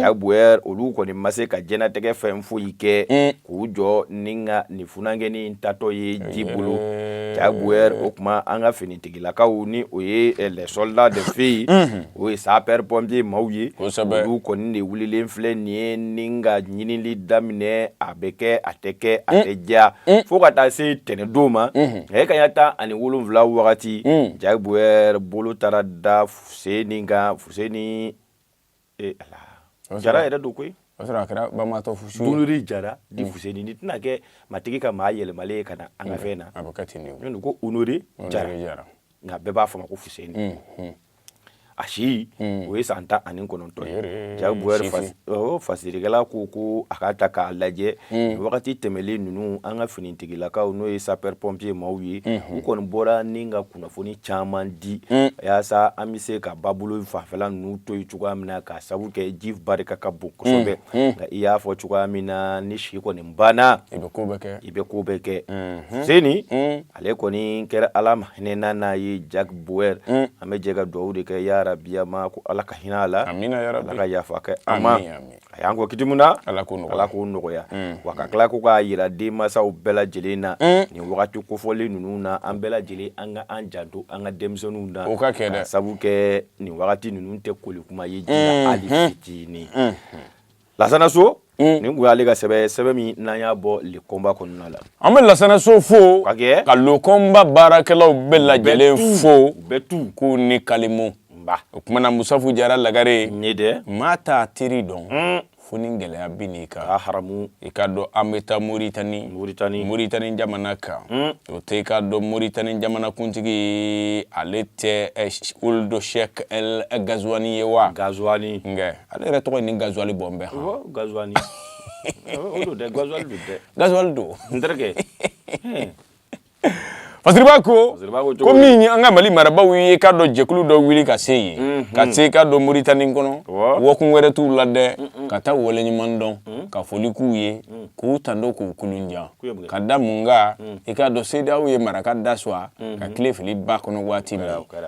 jack bauer olu kɔni ma se ka jɛnatigɛ fɛn foyi kɛ k'u jɔ ni ka nin funankɛni in taatɔ ye ji bolo jack bauer o kuma an ka finitigilakaw ni o ye les soldats de feu o ye sapeurs pompiers maaw ye olu kɔni de wulilen filɛ nin ye ni ka ɲinili daminɛ a bɛ kɛ a tɛ kɛ a tɛ diya fo ka taa se tɛnɛndon ma kanɲɛ tan ani wolonwula wagati jack bauer bolo taara da fuseni kan fuseni jara yɛrɛ don koyi a kɛra bantɔ jara fuseni tɛna kɛ matigi ka maa yɛlɛmalen ye ka na an ka fɛn na ko honoré jara nka bɛɛ b'a fɔ ma ko fuseni mhm. a si mhm. o ye san tan ani kɔnɔntɔn ye jack bauer fasirikɛla ko ko a k'a ta k'a lajɛ mhm. wagati tɛmɛlen ninnu an ka finitigilakaw n'o ye sapeurs pompiers maaw ye u kɔni bɔra ni ka kunnafoni caman di yaasa an bɛ se ka babolo fanfɛla ninnu to yen cogoya min na k'a sabu kɛ ji barika ka bon kosɛbɛ nka i y'a fɔ cogoya min na ni si kɔni banna i bɛ ko bɛɛ kɛ fuseni ale kɔni kɛra ala ma hinɛn'a na ye jack bauer mm. an bɛ jɛ ka dugawu de kɛ yarabiya ma ko ala ka hinɛ a la ala ka yafa kɛ a ma a y'an kɔn kiti min na ala k'o nɔgɔya mm. wa ka tila ko k'a jira denmasaw bɛɛ lajɛlen na mm. nin wagati kofɔlen ninnu na an bɛɛ lajɛlen an ka an janto an ka denmisɛnninw na o ka kɛ dɛ sabu kɛ nin wagati ninnu tɛ koli kuma ye ji la mm-hmm. hali fitinin mm-hmm. lasana so nin tun y'ale ka sɛbɛn sɛbɛn min n'an y'a bɔ le combat kɔnɔna la an bɛ lasana so fo ka le combat baarakɛlaw bɛɛ lajɛlen fo k'u ni kalimu o tumana musafu jara lagare ne dɛ maa t'a teri dɔn fo ni gɛlɛya binn'i kan hamu i k'a dɔn an bɛ taa moritani jamana kan o tɛ i k'a dɔn moritani jamanakuntigi ale tɛ ould cheikh ghazouani ye wa ghazouani kɛ ale yɛrɛ tɔgɔ ni ghazouali bɔ n bɛ ghazouali ghazouali don n terikɛ fasiriba ko ko min an ka mali marabagaw ye i k'a dɔn jɛkulu dɔ wuli ka se yen ka se i k'a dɔn moritani kɔnɔ wa kun wɛrɛ t'u la dɛ ka taa waleɲuman dɔn ka foli k'u ye k'u tando k'u kulunja ka da mun kan i k'a dɔn cedeao ye mara ka da sɔgɔ ka kile fili ba kɔnɔ waati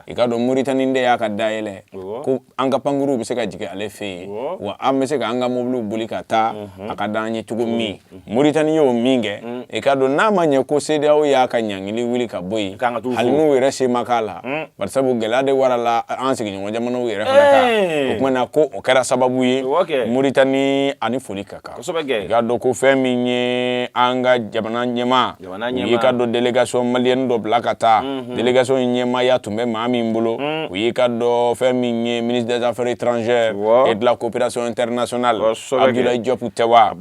i k'a dɔn moritani de y'a ka da yɛlɛ ko an ka pankurunw bɛ se ka jigin ale fɛ yen wa an bɛ se ka an ka mobiliw boli ka taa a ka di an ye cogo min moritani y'o min kɛ i k'a dɔn n'a ma ɲɛ ko cedeao y'a ka ɲangili wuli ka bɔ yen hali n'u yɛrɛ se ma k'a la bari sabu gɛlɛya de warala an sigiɲɔgɔn jamanaw yɛrɛ fana kan o tumana ko o kɛra sababu ye moritani a ni foli ka kan i k'a dɔn ko fɛn min ye an ka jamana ɲɛma y'i ka dɔn délégation malienne dɔ bila ka taa délégation in ɲɛmaaya tun bɛ maa min bolo u y'i ka dɔn fɛn min ye ministre des affaires étrangères et de la coopération internationale Abdoulaye Diop tɛ wa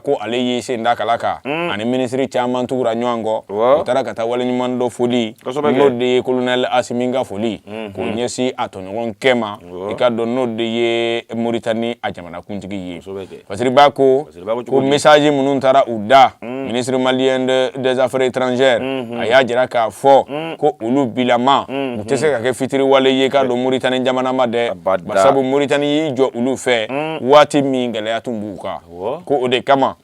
ko ale y'i sen da kala kan ani minisiri caman tugura ɲɔgɔn kɔ u taara ka taa waleɲumandɔn foli n'o de ye kolonɛ Assimi ka foli k'o ɲɛsin a tɔɲɔgɔnkɛ ma i ka dɔn n'o de ye moritani a jamanakuntigi ye parce ko ko message minnu taara u da mm. ministre malien des affaires étrangères mm-hmm. a y'a jira k'a fɔ mm. ko olu bilama mm-hmm. u tɛ se ka kɛ fitiriwale ye k'a don moritani jamana ma dɛ sabu moritani y'i jɔ olu fɛ mm. waati min gɛlɛya tun b'u kan ko o de kama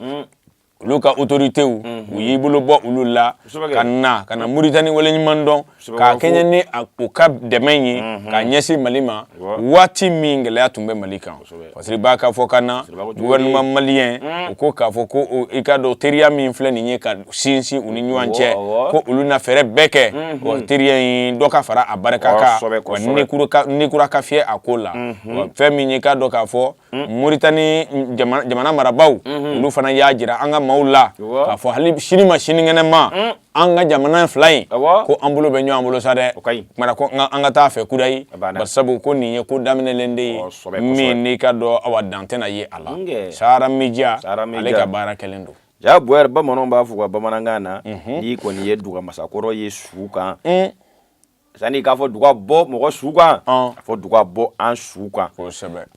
olu ka otoritew mm-hmm. u y'i bolo bɔ olu la ka na ka na moritani waleɲuman dɔn Ka kɛɲɛ ni u ka dɛmɛ ye ka ɲɛsin mali ma waati min gɛlɛya tun bɛ mali kan parce que b'a ka fɔkan na gouvernement malien u ko k'a fɔ ko i ka dɔn teriya min filɛ nin ye ka sinsin u ni ɲɔgɔn cɛ ko olu na fɛɛrɛ bɛɛ kɛ teriya in dɔ ka fara a barika kan ni kura ka fiyɛ a ko la fɛn min ye k'a dɔn k'a fɔ moritani jamana marabagaw olu fana y'a jira an ka maaw la k'a fɔ hali sini ma sinikɛnɛ ma an ka jamana fila in ko an bolo bɛ ɲɔgɔn bolo sa dɛ mara ko an ka taa a fɛ kudayi bari sabu ko nin ye ko daminɛlen de ye min n'i ka dɔn awa dan tɛna ye a la Sahara Media ale ka baara kɛlen don Jack Bauer bamananw b'a fɔ u ka bamanankan na n'i kɔni ye duga masakɔrɔ ye su kan Sani k'a fɔ duga bɔ mɔgɔ su kan a fɔ duga bɔ an su kan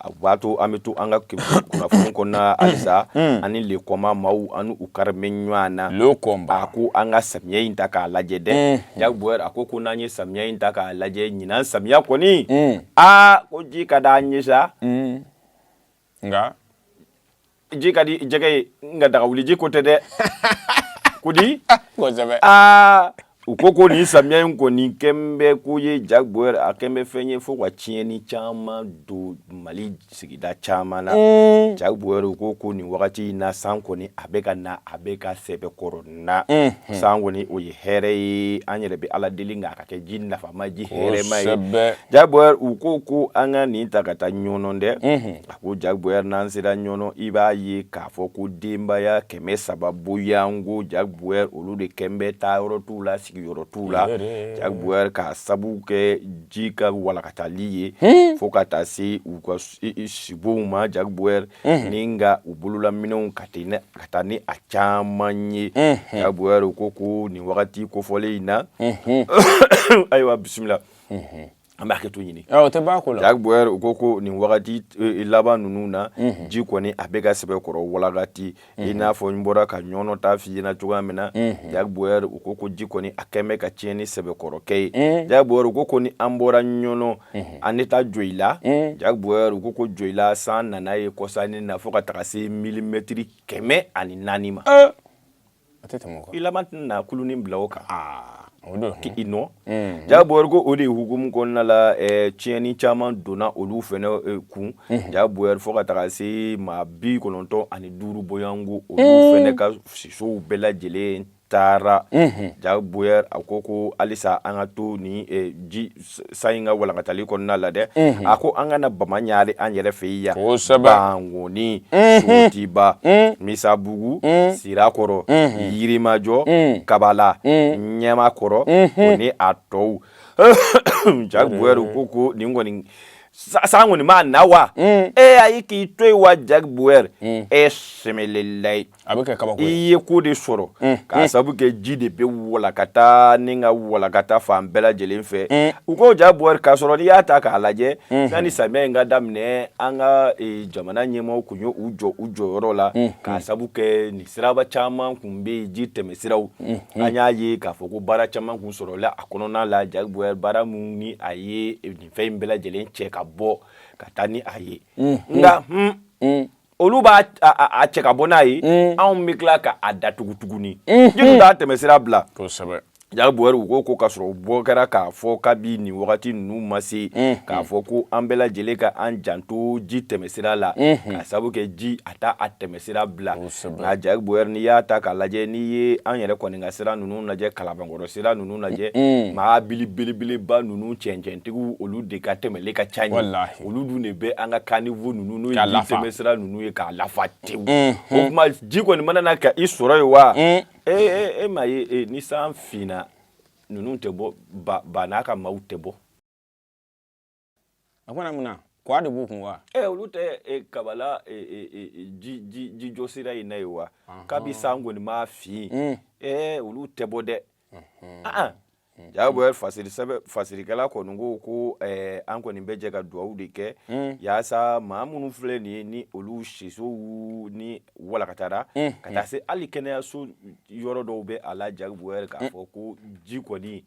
a b'a to an bɛ to an ka kunnafoni kɔnɔna halisa ani le kɔma maaw ani u kari bɛ ɲɔgɔn na a ko an ka samiya in ta k'a lajɛ dɛ Jack Bauer a ko ko n'an ye samiya in ta k'a lajɛ ɲinan samiya kɔni aa ko ji ka di an ye sa nka ji ka di jɛgɛ ye nka daga wuli ji ko tɛ dɛ ko di aa u ko ko nin samiya in kɔni kɛn bɛ ko ye Jack Bauer a kɛn bɛ fɛn ye fo ka tiɲɛni caman don mali sigida caman na Jack Bauer u ko ko nin wagati in na san kɔni a bɛ ka na a bɛ ka sɛbɛkɔrɔ na san kɔni o ye hɛrɛ ye an yɛrɛ bɛ ala deli k'a ka kɛ ji nafama ji hɛrɛma ye Jack Bauer u ko ko an ka nin ta ka taa ɲɔnɔ dɛ a ko Jack Bauer n'an sera ɲɔnɔ i b'a ye k'a fɔ ko denbaya kɛmɛ saba boyan ko Jack Bauer olu de kɛn bɛ taa yɔrɔ t'u la sigi yɔrɔ t'u la Jack Bauer ka sabu kɛ ji ka walankatali ye fo ka taa se u ka sibonw ma Jack Bauer ni ka u bololaminɛnw ka ten dɛ ka taa ni a caman ye Jacques Boyer u ko ko nin wagati kofɔlen in na ayiwa bisimila an b'a hakɛto ɲini o tɛ b'a ko la Jacques Boyer u ko ko nin wagati e, laban ninnu na mhm. ji kɔni a bɛ ka sɛbɛkɔrɔ walagata i mhm. n'a fɔ n bɔra ka ɲɔnɔ ta f'i ɲɛna cogoya min na mhm. Jacques Boyer u ko ko ji kɔni a kɛn bɛ ka tiɲɛni sɛbɛkɔrɔ kɛ yen Jacques Boyer u ko ko ni an bɔra ɲɔnɔ an tɛ taa joyila Jacques Boyer u ko ko joyila san nana yen kɔsa in na fo ka taga se milimɛtiriri kɛmɛ ani naani ma i tɛna kulunin bila o kan k i nɔ Jacques Boyer ko o de hukumu kɔnɔna la tiɲɛni caman donna olu fɛnɛ kun Jacques Boyer fo ka taga se maa bi kɔnɔntɔn ani duuru bɔɲɔgɔn ko olu fɛnɛ ka sisow bɛɛ lajɛlen taara Jacques Boyer a ko ko halisa an ka to ni ji san in ka walankatali kɔnɔna la dɛ a ko an ka na bamakɔ yan an yɛrɛ fɛ yan kɔni sotiba misabugu sirakɔrɔ yirimajo kabala ɲamakɔrɔ o ni a tɔw Jacques Boyer ko ko nin kɔni san kɔni ma na wa e y'a ye k'i to yen wa Jacques Boyer e sɛmɛlelayi a bɛ kɛ kabako ye i ye ko de sɔrɔ mm, k'a mm. sabu kɛ ji de bɛ walakata ni ka walakata fan bɛɛ lajɛlen fɛ mm. u ko Jacques Boyer k'a sɔrɔ n'i y'a ta k'a lajɛ mm-hmm. sanni samiya in ka daminɛ an ka e, jamana ɲɛmaaw kun ye u jɔ u jɔyɔrɔ la mm-hmm. k'a sabu kɛ nin siraba caman kun bɛ yen ji tɛmɛsiraw mm-hmm. an y'a ye k'a fɔ ko baara caman kun sɔrɔla a kɔnɔna la Jacques Boyer baara min ni a ye e, nin fɛn in bɛɛ lajɛlen cɛ ka bɔ ka taa ni a ye nka olu b'a a cɛ ka bɔ n'a ye mm. anw bɛ tila ka a datugu tuguni mm-hmm. ji dun t'a tɛmɛsira bila kosɛbɛ Jacques Boyer u ko ko k'a sɔrɔ u bɔ kɛra k'a fɔ kabi nin wagati ninnu ma se mm-hmm. k'a fɔ ko an bɛɛ lajɛlen ka an janto ji tɛmɛsira la mm-hmm. k'a sabu kɛ ji a t'a a tɛmɛsira bila nka Jacques Boyer n'i y'a ta k'a lajɛ n'i ye an yɛrɛ kɔni ka sira ninnu lajɛ kalabankɔrɔ sira ninnu lajɛ mɔbili belebeleba ninnu cɛncɛntigiw olu de ka tɛmɛli ka ca yen olu dun de bɛ an ka kanivo ninnu n'o ye ji tɛmɛsira ninnu ye k'a lafa tewu o tuma ji kɔni mana na ka i sɔrɔ yen wa e e m'a ye ni san finna ninnu tɛ bɔ ba n'a ka maaw tɛ bɔ a fana mun na kɔwa de b'u kun wa ɛ olu tɛ kabala jijɔsira in na yen wa kabi san kɔni ma fin ɛ olu tɛ bɔ dɛ Jacques Boyer fasirikɛla kɔni ko ko an kɔni bɛ jɛ ka dugawu de kɛ yaasa maa minnu filɛ nin ye ni olu sisow ni walankatara ka taa se hali kɛnɛyaso yɔrɔ dɔw bɛ a la Jacques Boyer k'a fɔ ko ji kɔni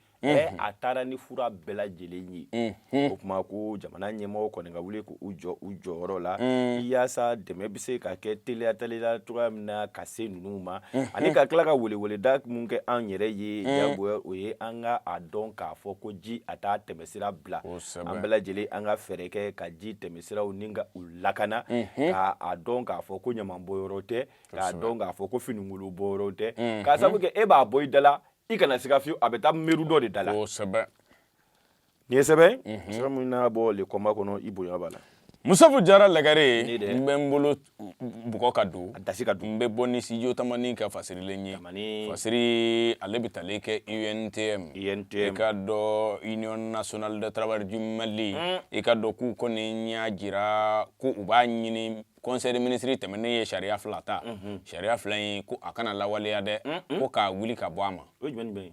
a taara ni fura bɛɛ lajɛlen ye Hmm. o tuma ko jamana ɲɛmɔgɔ kɔni ka wuli k'u jɔ u jɔyɔrɔ la hmm. yaasa dɛmɛ bɛ se ka kɛ teliya teliya cogoya min na ka se ninnu ma hmm. ani ka tila ka weleweleda mun kɛ an yɛrɛ ye jagoya o ye an ka a dɔn k'a fɔ ko ji a t'a tɛmɛsira bila an bɛɛ lajɛlen an ka fɛɛrɛ kɛ ka ji tɛmɛsiraw ni ka u lakana ka a dɔn k'a fɔ ko ɲaman bɔyɔrɔ tɛ k'a dɔn k'a fɔ ko fininkolon bɔyɔrɔ tɛ k'a sabu kɛ e b'a bɔ i da la i kana siga fiyewu a bɛ taa miiri dɔ de da la nin ye sɛbɛn sɛbɛn min n'a bɔ le kɔnba kɔnɔ i bonya b'a la musafu jara lagare Ne dɛ. n bɛ n bolo bugɔ ka don a dasi ka dun n bɛ bɔ ni studio tamani ka fasirilen ye Tamani. fasiri ale bɛ tali kɛ untm i UNTM. ka dɔn union nationale de travail du mali i ka dɔn k'u kɔni y'a jira ko u b'a ɲini conseil des ministres tɛmɛnen ye sariya fila ta sariya fila in ko a kana lawaleya dɛ ko k'a wuli ka bɔ a ma o ye jumɛn ni jumɛn ye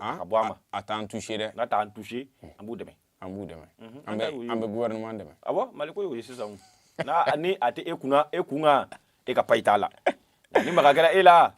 ah, ka bɔ a ma a t'an touché dɛ n'a t'an touché an b'u dɛmɛ an b'u dɛmɛ mhm. an bɛ an bɛ gouvernement dɛmɛ awɔ ah mali ko y'o ye sisan n'a ni a tɛ e kunna e kun kan e ka payi t'a la ni maga kɛra e la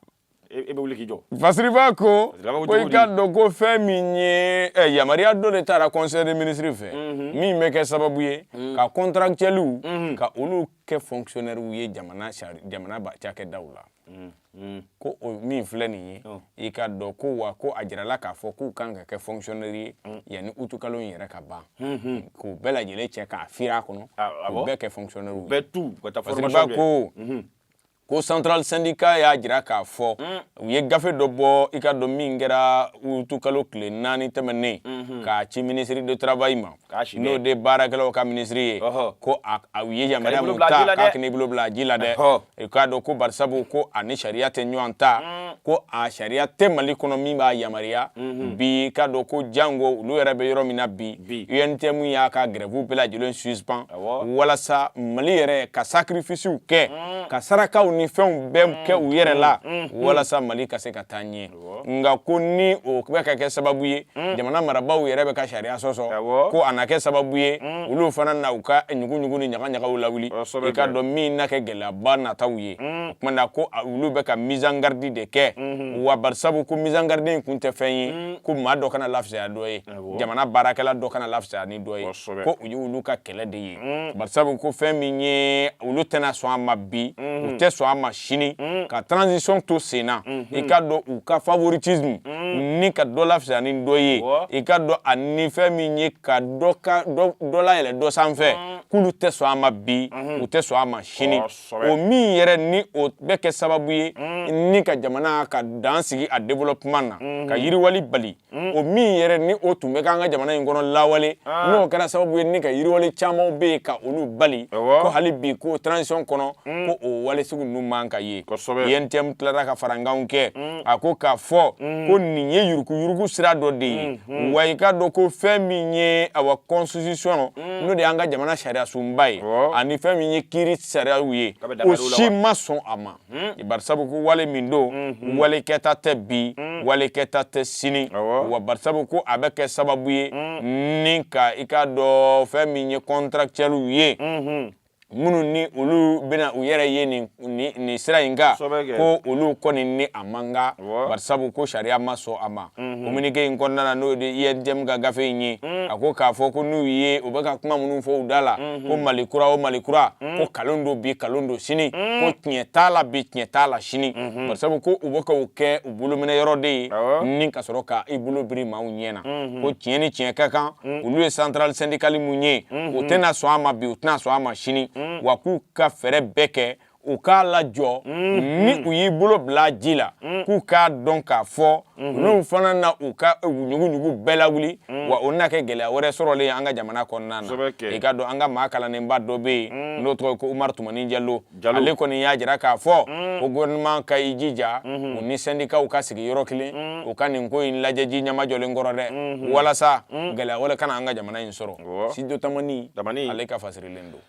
e bɛ wuli k'i jɔ fasiriba ko ko i k'a dɔn ko fɛn min ye eh, yamaruya dɔ de taara conseil des ministres fɛ mhm. min bɛ kɛ sababu ye mhm. ka contractuels mhm. ka olu kɛ fonctionnaires ye jamana jamana cakɛdaw la mm, mm. ko o min filɛ nin ye oh. i ka dɔn ko wa ko a jirala k'a fɔ k'u kan ka kɛ fonctionnaire ye mm. yanni utukalo in yɛrɛ ka ban mm-hmm. k'u bɛɛ lajɛlen cɛ k'a firi a kɔnɔ ah, ah k'u bɛɛ kɛ fonctionnaire ye bɛɛ tu ka taa formation kɛ ko mm-hmm. ko central syndicat y'a jira k'a fɔ mm. u ye gafe dɔ bɔ i ka dɔn min kɛra utukalo tile naani tɛmɛnen mm-hmm. k'a ci ministre de travail ma n'o de baarakɛlaw ka minisiri ye ko u ye yamaruya min ta k'a kana i bolo bila ji la dɛ i k'a dɔn ko barisabu ko a ni sariya tɛ ɲɔgɔn ta mm. ko a sariya tɛ mali kɔnɔ min b'a yamaruya mm-hmm. bi k'a dɔn ko janko olu yɛrɛ bɛ yɔrɔ min na bi untm y'a ka grève bɛɛ lajɛlen suspend walasa mali yɛrɛ ka sacrificew kɛ mm. ka sarakaw ni fɛnw bɛɛ kɛ u yɛrɛ la mm. walasa mali ka se ka taa ɲɛ nka ko ni o bɛ ka kɛ sababu ye mm. jamana marabaaw yɛrɛ bɛ ka sariya sɔsɔ ko a na kɛ sababu ye mm. olu fana na u ka ɲuguɲugu ni ɲagaɲagaw lawuli i ka dɔn min na kɛ gɛlɛyaba nataw ye mm. o tuma na ko olu bɛ ka mise en garde de kɛ mm-hmm. wa barisabu ko mise en garde in kun tɛ fɛn ye ko maa dɔ kana lafisaya dɔ ye jamana baarakɛla dɔ kana lafisaya ni dɔ ye ko o ye olu ka kɛlɛ de ye mm. barisabu ko fɛn min ye olu tɛna sɔn a ma bi u mm-hmm. tɛ sɔn a ma sini mm. ka transition to sen na mm-hmm. i ka dɔn u ka favoritisme mm. ni ka dɔ lafisaya ni dɔ ye i ka dɔn a ni fɛn min ye ka dɔ ka dɔ layɛlɛ dɔ sanfɛ k'olu tɛ sɔn a ma bi mm-hmm. u tɛ sɔn a ma sini o min yɛrɛ ni o bɛ kɛ sababu ye ni ka jamana ka dan sigi a développement na ka yiriwali bali Mm. o min yɛrɛ ni o tun bɛ k'an ka jamana in kɔnɔ lawale ah. n'o kɛra sababu ye ni ka yiriwale camanw bɛ yen ka olu bali ko hali bi ko transition kɔnɔ mm. ko o wale sugu ninnu man ka ye UNTM tilara ka farankanw kɛ mm. a ko k'a fɔ ko nin ye yurukuyuruku sira dɔ de ye wa i k'a dɔn ko fɛn min ye awa constitution n'o de y'an ka jamana sariyasunba ye ani fɛn min ye kiiri sariyaw ye o si ma sɔn a ma Hmm. barisabu ko wale min don hmm. wale kɛta tɛ bi hmm. wale kɛta tɛ sini wa barisabu ko a bɛ kɛ sababu ye ni ka i k'a dɔn fɛn min ye contractuels ye minnu ni olu bɛna u yɛrɛ ye nin sira in kan ko olu kɔni ni a man kan barisabu ko sariya ma sɔn a ma communiqué in kɔnɔna na n'o de UNTM ka gafe in ye a ko k'a fɔ ko n'u ye u bɛ ka kuma minnu fɔ u da la ko Mali kura o Mali kura ko kalon don bi kalon don sini ko tiɲɛ t'a la bi tiɲɛ t'a la sini bari sabu ko u bɛ ka o kɛ u bolominɛ yɔrɔ de ye ni ka sɔrɔ ka i bolo biri maaw ɲɛ na ko tiɲɛ ni tiɲɛ ka kan olu ye centrale syndicale min ye u tɛna sɔn a ma bi u tɛna sɔn a ma sini wa k'u ka fɛɛrɛ bɛɛ kɛ u k'a lajɔ ni u y'i bolo bila ji la k'u k'a dɔn k'a fɔ olu fana na u ka ɲuguɲugu bɛɛ lawuli wa o na kɛ gɛlɛya wɛrɛ sɔrɔlen ye an ka jamana kɔnɔna na i k'a dɔn an ka maa kalannenba dɔ bɛ yen n'o tɔgɔ ye ko Umaru Tumani Jalo ale kɔni y'a jira k'a fɔ ko gouvernement ka i jija u ni sɛndikaw ka sigi yɔrɔ kelen u ka nin ko in lajɛ ji ɲɛma jɔlen kɔrɔ dɛ walasa gɛlɛya wɛrɛ kana an ka jamana in sɔrɔ Studio Tamani ale ka fasirilen don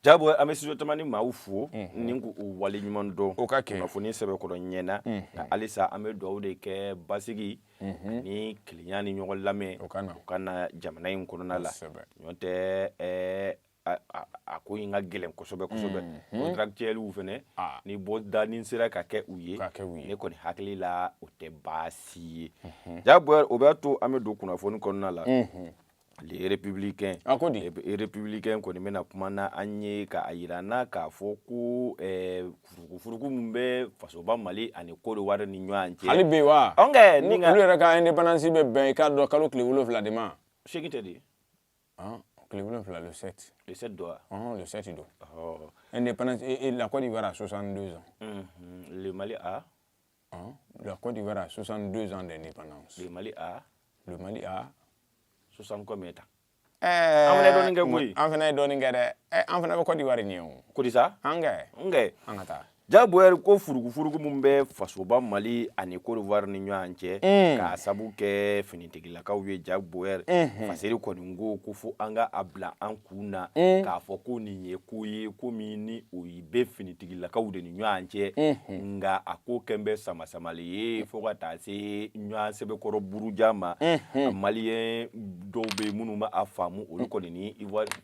Jabo an bɛ Studio Tamani maaw fo ni k'u wale ɲuman dɔn o ka kɛ kunnafoni sɛbɛkɔrɔ ɲɛna nka halisa an bɛ dugawu de kɛ basigi ni kelenya ni ɲɔgɔn lamɛn o ka na jamana in kɔnɔna la n'o tɛ a ko in ka gɛlɛn kosɛbɛ kosɛbɛ contractuels fɛnɛ ni bɔdanin sera ka kɛ u ye ne kɔni hakili la o tɛ baasi ye Jabo o b'a to an bɛ don kunnafoni kɔnɔna la Républicain le Républicain kɔni bɛna kuma na an ye ka a jira an na k'a fɔ ko furukufuruku min bɛ fasoba Mali ani Côte d'Ivoire ni ɲɔgɔn cɛ hali bi wa olu yɛrɛ ka indépendance bɛ bɛn i k'a dɔn kalo tile wolo wolonwula de ma sept de tile wolonwula don et la Côte d'Ivoire a 62 ans Mali Hein? La Côte d'Ivoire a 62 ans d'indépendance. Le Mali a Le Mali a 60 combien de temps eh, an fana ye dɔɔnin kɛ koyi an fana ye dɔɔnin kɛ dɛ eh, an fana bɛ Côte d'Ivoire ɲɛ o ko di sa an kɛ an kɛ an ka taa Jabo ko furugufurugu min bɛ fasoba Mali ani Côte d'Ivoire ni ɲɔgɔn cɛ mm. k'a sabu kɛ finitigilakaw ye Jabo mm-hmm. faseri kɔni ko ko fo an ka a bila an kun na mm. k'a fɔ ko nin ye ko ye ko min ni o ye bɛ finitigilakaw de ni ɲɔgɔn cɛ nka a ko kɛlen bɛ samasamali ye fo ka taa se ɲɔgɔn sɛbɛkɔrɔ buruja ma maliyɛn dɔw bɛ minnu ma a faamu olu kɔni ni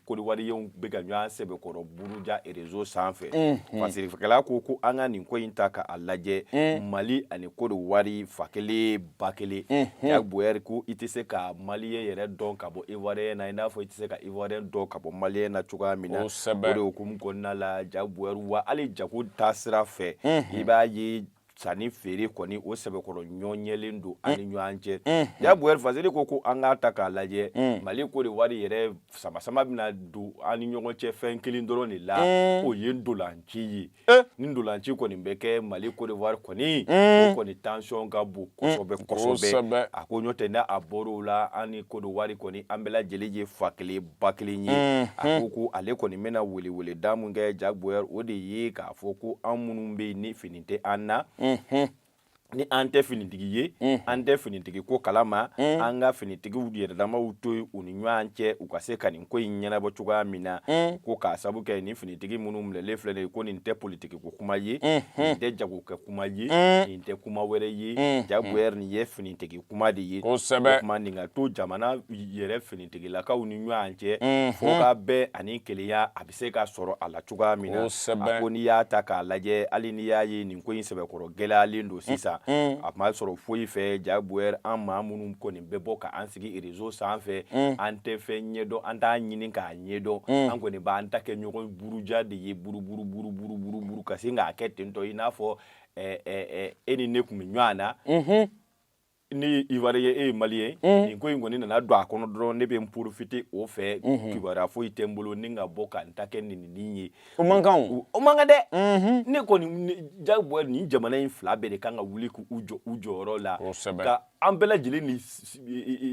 kodewariyɛn bɛ ka ɲɔgɔn sɛbɛkɔrɔ buruja rezo sanfɛ fasirikɛla ko ko an ka nin ko in ta k'a lajɛ mali ani kodewari fa kelen ba kelen jaboyɛrɛ ko i tɛ se ka maliyɛn yɛrɛ dɔn ka bɔ ivoiriyɛn na i n'a fɔ i tɛ se ka ivoiriyɛn dɔn ka bɔ maliyɛn na cogoya min na o de hukumu kɔnɔna la jaboyɛrɛ wa hali jago taasira fɛ i b'a ye sanni feere kɔni o sɛbɛkɔrɔ ɲɔnyɛlen don an ni ɲɔgɔn cɛ jaboyɛrɛ fasiri ko ko an k'a ta k'a lajɛ mali kodewari yɛrɛ samasama bɛna don an ni ɲɔgɔn cɛ fɛn kelen dɔrɔn de la o ye ndolanci ye Eh. ni ndolanci kɔni bɛ kɛ mali kodewari kɔni mm. o kɔni tansɔn ka bon kosɛbɛ mm. kosɛbɛ a ko ɲɔtɛ n'a a bɔr'o la an ni kodewari kɔni an bɛɛ lajɛlen ye fa kelen ba kelen ye mm. a mm-hmm. ko ko ale kɔni bɛna weleweleda min kɛ jaboyɛrɛ o de ye k'a fɔ ko an minnu bɛ yen ni fini tɛ an na mm-hmm. ni an tɛ finitigi ye mm. an tɛ finitigi ko kalama mm. an ka finitigiw yɛrɛdamaw to u ni ɲɔgɔn cɛ u ka se ka nin ko in ɲɛnabɔ cogoya min na mm. ko k'a sabu kɛ nin finitigi minnu minɛlen filɛ nin ye ko nin tɛ politiki ko kuma ye mm-hmm. nin tɛ jagokɛ kuma ye nin tɛ kuma wɛrɛ ye mm-hmm. jaboyɛrɛ nin ye finitigi kuma de ye kosɛbɛ kuma nin ka to jamana yɛrɛ finitigilakaw ni ɲɔgɔn cɛ mm-hmm. fo ka bɛn ani kelenya a bɛ se ka sɔrɔ a la cogoya min na a ko n'i y'a ta k'a lajɛ hali n'i y'a ye nin ko in sɛbɛkɔrɔ gɛlɛyalen don sisan a ma sɔrɔ foyi fɛ jaboyɛrɛ an maa minnu kɔni bɛ bɔ k'an sigi rezo sanfɛ an tɛ fɛn ɲɛdɔn an t'a ɲini k'a ɲɛdɔn an kɔni b'an ta kɛ ɲɔgɔn buruja de ye buruburu ka sin k'a kɛ tentɔ i n'a fɔ e ni ne tun bɛ ɲɔgɔn na ne ivoiriyɛn e maliyɛn nin ko in kɔni nana don a kɔnɔ dɔrɔn ne bɛ n porofite o fɛ kibaruya foyi tɛ n bolo ne ka bɔ ka n ta kɛ nɛnini ye o man kan o man kan dɛ ne kɔni jaboyɛrɛ nin jamana in fila bɛɛ de kan ka wuli k' u jɔ u jɔyɔrɔ la ka an bɛɛ lajɛlen ni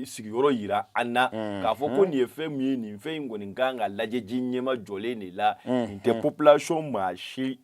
sigiyɔrɔ yira an na k'a fɔ ko nin ye fɛn min ye nin fɛn in kɔni kan ka lajɛ ji ɲɛmajɔlen de la nin tɛ populasɔn maa si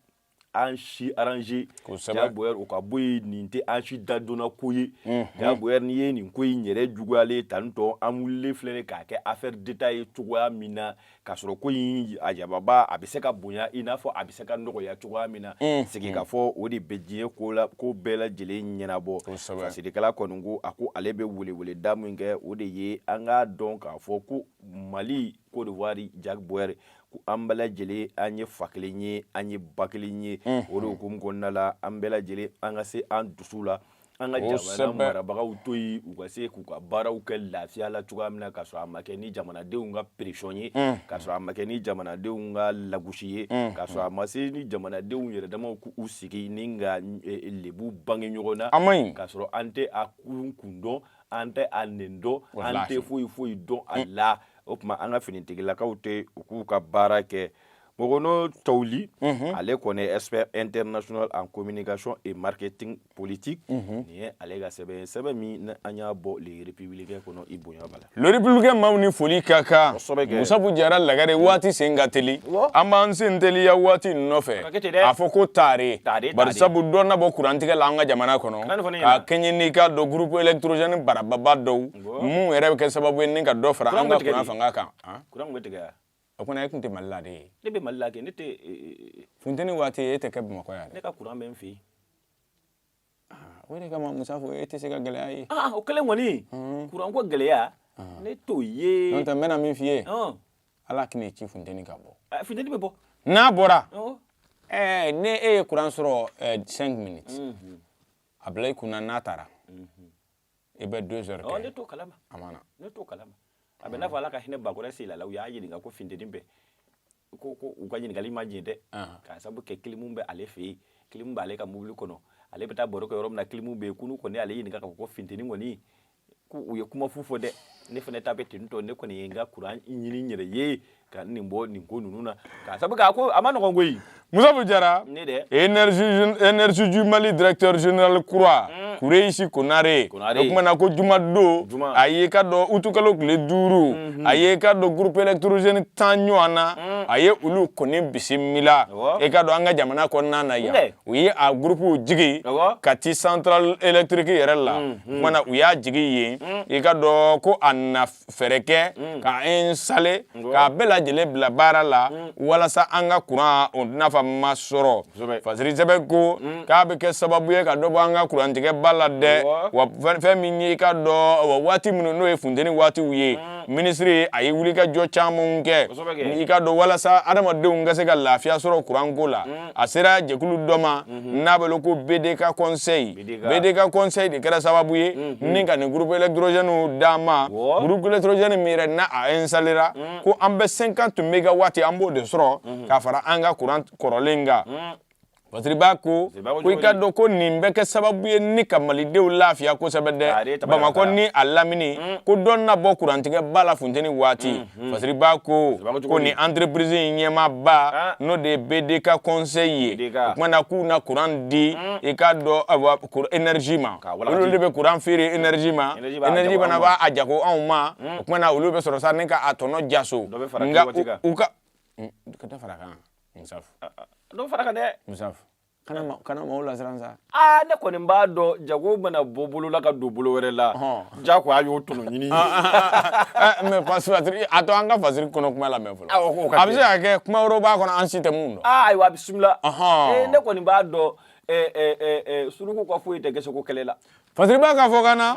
an si aranze jaboyɛrɛ o ka bɔ yen nin tɛ an si dadonna ko ye jaboyɛrɛ n'i ye nin ko in yɛrɛ juguyalen tan tɔ an wulilen filɛ k'a kɛ afɛri deta ye cogoya min na ka sɔrɔ ko in a jababa a bɛ se ka bonya i n'a fɔ a bɛ se ka nɔgɔya cogoya min na sigi ka fɔ o de bɛ diɲɛ ko la ko bɛɛ lajɛlen ɲɛnabɔ fasirikɛla kɔni ko a ko ale bɛ weleweleda min kɛ o de ye an ka dɔn k'a fɔ ko mali Côte d'Ivoire ja bɔri ko an bɛɛ lajɛlen an ye fa kelen ye an ye ba kelen ye o de hukumu kɔnɔna la an bɛɛ lajɛlen an ka se an dusu la an ka jamana marabagaw to yen u ka se k'u ka baaraw kɛ lafiya la cogoya min na ka sɔrɔ a ma kɛ ni jamanadenw ka pression ye ka sɔrɔ a ma kɛ ni jamanadenw ka lagosi ye ka sɔrɔ a ma se ni jamanadenw yɛrɛ dama k'u sigi ni ka lebu bange ɲɔgɔn na ka sɔrɔ an tɛ a kun kun dɔn an tɛ a nin dɔn an tɛ foyi foyi dɔn a mm. la o tuma an ka finitigilakaw to yen u k'u ka baara kɛ Mogono Tawuli mm-hmm. ale kɔni ye expert international en communication et marketing politique mm-hmm. nin ye ale ka sɛbɛn ye sɛbɛn min an y'a bɔ le républicain kɔnɔ i bonya b'a la le républicain maaw ni foli ka kan Musabu Jara Lagare mm. waati sen ka teli an b'an sen teliya waati nɔfɛ a fɔ ko taare bari sabu dɔ na bɔ kurantigɛ la an ka jamana kɔnɔ ka kɛɲɛ n'i ka dɔn groupe électrogène barababa dɔw minnu yɛrɛ bɛ kɛ sababu ye ka dɔ fara an ka kuran fanga kan o kɔnɔ e tun tɛ mali la de ye ne bɛ mali la funteni waati e tɛ kɛ bamakɔ yan ne ka kuran bɛ n fɛ yen o kama musafu e tɛ se ka gɛlɛya ye o kelen kɔni kuranko gɛlɛya ne t'o ye n bɛna min f'i ye ala kini ci funteni ka bɔ eh, funteni bɛ bɔ n'a bɔra eh, n'e ye kuran sɔrɔ 5 eh, minutes mhm. a bila i kunna n'a taara mhm. i bɛ 2 heures kɛ ne t'o kalama a ma na ne t'o kalama a bɛ n'a fɔ ala ka hinɛ bakɔrɛ sila la u y'a ɲininka ko funteni bɛ ko ko u ka ɲininkali ma jɛ dɛ k'a sabu kɛ kilimu bɛ ale fɛ yen kilimu b'ale ka mobili kɔnɔ ale bɛ taa baro kɛ yɔrɔ min na kilimu bɛ yen ko n'u kɔni ale ɲininka k'a fɔ ko funteni kɔni ko u ye kuma fu fɔ dɛ ne fana ta bɛ ten tɔ ne kɔni ye n ka kuran ɲini n yɛrɛ ye ka nin bɔ nin ko ninnu na ka sabu k'a ko a man nɔgɔn koyi musafu jara énergie du mali directeur général kura mm. kureisi konare o kumana ko juma don a ye i ka dɔn utikalo tile duuru mhm. a ye i ka dɔn groupe électrogène tan ɲɔgɔn na mm. a ye olu kɔni bisimila i ka dɔn an ka jamana kɔnɔna na yan u ye a gurupuw jigin kati central électrique yɛrɛ la tuma na u y'a jigin yen i ka dɔn ko a na fɛɛrɛ kɛ k'a installer k'a bɛɛ lajɛlen bila baara la walasa an ka kuran nafama sɔrɔ fasiri sɛbɛ ko k'a bɛ kɛ sababu ye ka dɔ bɔ an ka kurantigɛ ba la dɛ wa fɛn min y'i ka dɔn waati minnu n'o ye funteni waatiw ye minisiri a ye wulikajɔ camanw kɛ i ka dɔn walasa adamadenw ka se ka lafiya sɔrɔ kuranko la a sera jɛkulu dɔ ma n'a bɛ wele ko bdk conseil bdk conseil de kɛra sababu ye ni ka nin groupe électrogènew d'a ma groupe électrogène min yɛrɛ n'a installera ko an bɛ 50 mégawatts an b'o de sɔrɔ k'a fara an ka kuran kɔrɔlen kan Fasiriba ko ko i ka dɔn ko nin bɛ kɛ sababu ye ni ka malidenw lafiya kosɛbɛ dɛ bamakɔ ni a lamini ko dɔ na bɔ kurantigɛ ba la funteni waati Hmm. Fasiriba ko ko ni entreprise in ɲɛmaaba ah. n'o de ye BDK conseil ye o kumana k'u na courant di hmm. i k'a dɔn énergie ma olu de bɛ courant feere énergie ma énergie fana b'a a jago anw ma hmm. o kumana olu bɛ sɔrɔ sa ni ka a tɔnɔ jaso nka u ka ka dɔ fara kan Musafu ah, ah. dɔ fara kan dɛ Musafu kana maaw lasiran sa aa ne kɔni b'a dɔn jago mana bɔ bolo la ka don bolo wɛrɛ la ja ko a y'o tɔnɔ ɲini mais fasiri a to an ka fasiri kɔnɔ kuma lamɛn fɔlɔ a bɛ se ka kɛ kuma wɛrɛ b'a kɔnɔ an si tɛ min dɔn ayiwa a bisimila ne kɔni b'a dɔn suruku ka foyi tɛ gese ko kɛlɛ la Fasiriba ka fɔ ka na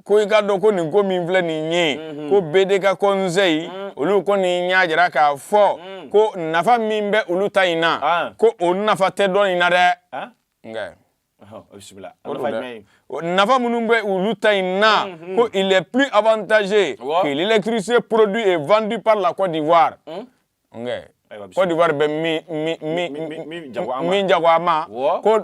ko i k'a dɔn ko nin ko min filɛ nin ye ko BDK conseil olu kɔni y'a jira k'a fɔ ko nafa min bɛ olu ta in na ko o nafa tɛ dɔ in na dɛ nka nafa minnu bɛ olu ta in na ko il est plus avantageux que l'électricité produit et vendu par la Côte d'Ivoire Côte d'Ivoire bɛ min jago a ma ko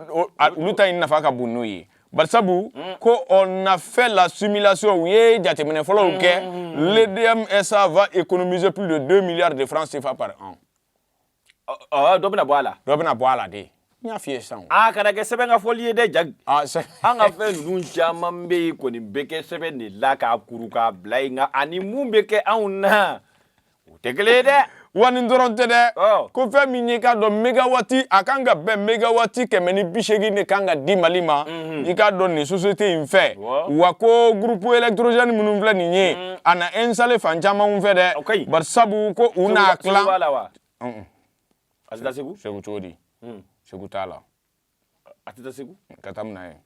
olu ta in nafa ka bon n'o ye barisabu mm. ko on a fait la simulation u ye jateminɛ fɔlɔw kɛ mm. l'EDM SA va économiser plus de 2 milliards de francs cfa par an dɔ bɛna bɔ a la dɔ bɛna bɔ a la de n y'a f'i ye sisan a kana kɛ sɛbɛn ka fɔli ye dɛ jagi an ka fɛn ninnu caman bɛ yen kɔni bɛ kɛ sɛbɛn de la k'a kuru k'a bila yen nka a ni min bɛ kɛ anw na u tɛ kelen ye dɛ wa nin dɔrɔn tɛ dɛ ko fɛn min y'i k'a dɔn megawati a kan ka bɛn megawati kɛmɛ ni bi seegin de kan ka di mali ma mhm. i k'a dɔn nin société in fɛ wa ko groupe électrogène minnu filɛ nin ye mhm. a na installer fan camanw fɛ dɛ barisabu ko u n'a tilan segu cogo di segu t'a la a tɛ taa segu ka taa mun na ye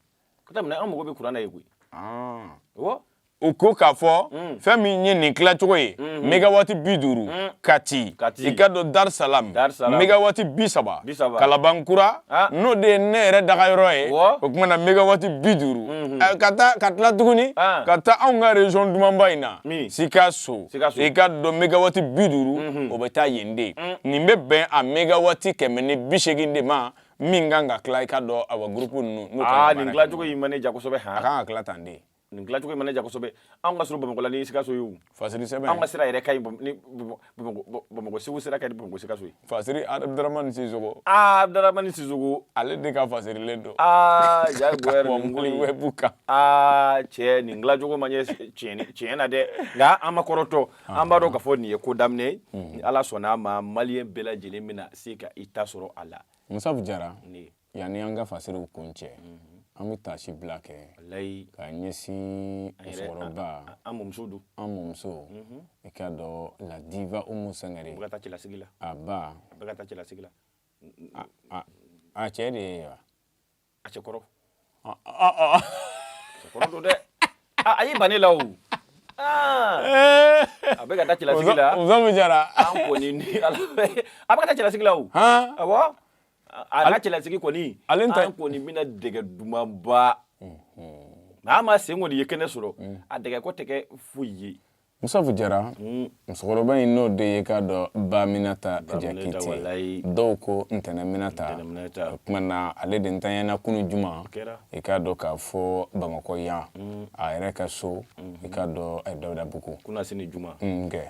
ka taa mun na an mago bɛ kuran na yen koyi awɔ u ko k'a fɔ mm. fɛn min ye nin tilacogo ye mm-hmm. megawati bi duuru mm. kati i k'a dɔn dar salam megawati bi saba kalabankura ah. n'o de ye ne yɛrɛ dagayɔrɔ ye o tuma na megawati bi duuru mm-hmm. eh, ka taa ka tila tuguni ah. ka taa anw ka région dumanba in na sikaso i k'a dɔn megawati bi duuru mm-hmm. o bɛ taa yen de mm. nin bɛ bɛn a megawati kɛmɛ ni bi seegin de ma min kan ka tila i k'a dɔn awa groupe ninnu n'u kan ka nin tilacogo in ma ne ja kosɛbɛ a kan ka tila tan de nin tilacogo in ma ne ja kosɛbɛ anw ka surun bamakɔ la ni sikaso ye o fasiri sɛbɛn anw ka sira yɛrɛ ka ɲi ni bamakɔ segu sira ka ɲi bamakɔ sikaso ye fasiri abdaramani sisogo aa abdaramani sisogo ale de ka fasirilen don aa ja goyɛr nin ko in wɛbu kan aa cɛ nin tilacogo ma ɲɛ tiɲɛ na dɛ nka an ma kɔrɔtɔ an b'a dɔn k'a fɔ nin ye ko daminɛ ye ni ala sɔnna a ma maliyɛn bɛɛ lajɛlen bɛna se ka i ta sɔrɔ a la musafu jara ne yanni an ka fasiriw kuncɛ an bɛ taasibila kɛ layi ka ɲɛsin musokɔrɔba an mɔmuso don an mɔmuso i k'a dɔn la diva umu sangare bɛ ka taa cɛlasigi la a ba bɛ ka taa cɛlasigi la a a cɛ de ye wa a cɛ kɔrɔ kɔrɔ don dɛ a y'i ban ne la o a bɛ ka taa cɛlasigi la musafu jara an kɔni ni ala a bɛ ka taa cɛlasigi la o awɔ a ka cɛlasigi kɔni ale ta an kɔni bɛna dɛgɛ dumanba nka an ma sen kɔni ye kɛnɛ sɔrɔ a dɛgɛ ko tɛ kɛ foyi ye musafu jara hmm. musokɔrɔba in n'o de ye k'a dɔn ba minata jakite dɔw ko ntɛnɛ minata o tuma na ale de ntanyana kunu juma i k'a dɔn k'a fɔ bamakɔ yan hmm. a yɛrɛ ka so hmm. i k'a dɔn eh, dawudabugu kunasini juma nkɛ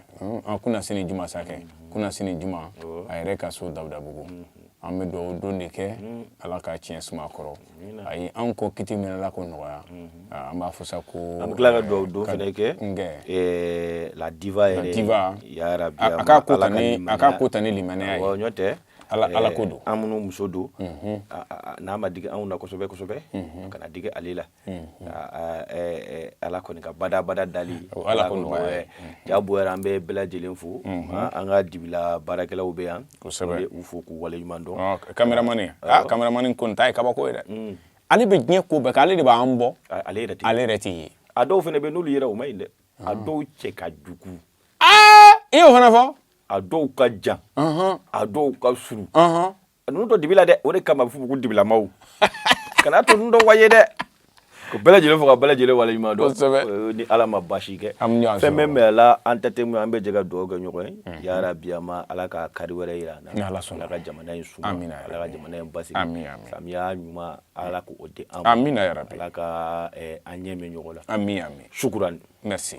ah, kunasini juma sakɛ kunasini juma a yɛrɛ ka so dawudabugu an bɛ dugawu don de kɛ ala ka tiɲɛ suma kɔrɔ a y'an kɔn kiti min na ala k'o nɔgɔya an b'a fɔ sa ko an bɛ tila ka dugawu don fana kɛ la diva yɛrɛ a ka ko a ka ko ta ni limaniya ɲɔgɔn tɛ ala ala ko don an mɔmuso don n'a ma digi anw na kosɛbɛ kosɛbɛ a kana digi ale la ala kɔni ka badabada dalen ala ja bɔ an bɛ bɛɛ lajɛlen fo an ka dibila baarakɛlaw u bɛ yan u fo k'u waleɲuman dɔn cameraman cameraman kɔni ta ye kabako ye dɛ ale bɛ diɲɛ ko bɛɛ kɛ ale de b'an bɔ ale yɛrɛ ale yɛrɛ tɛ ye a dɔw fana bɛ n'olu yɛrɛ u man ɲi dɛ a dɔw cɛ ka jugu i y'o fana fɔ a dɔw ka jan a dɔw ka surun a ninnu to dibi la dɛ o de kama a bɛ f'u ma ko dibilamaaw kana to ninnu dɔ wa ye dɛ k'u bɛɛ lajɛlen fo ka bɛɛ lajɛlen waleɲuman dɔn Kosɛbɛ. Eh, ni ala ma basi kɛ An bɛ ɲɔgɔn fɛn sɔrɔ. bɛ mɛ la an tɛ temu an bɛ jɛ ka dugawu kɛ ɲɔgɔn ye ya Rabbi ya ma ala ka kari wɛrɛ yira an na Ni Ala sɔnna. ala ka jamana in suma Amina, ya ala ka Rabbi. jamana in basigi Amin, ya Rabbi. samiya ɲuman ala k'o di an ma Amina, ya Rabbi. ala ka eh, an ɲɛ mɛɛn ɲɔgɔn la amin amin sukurani merci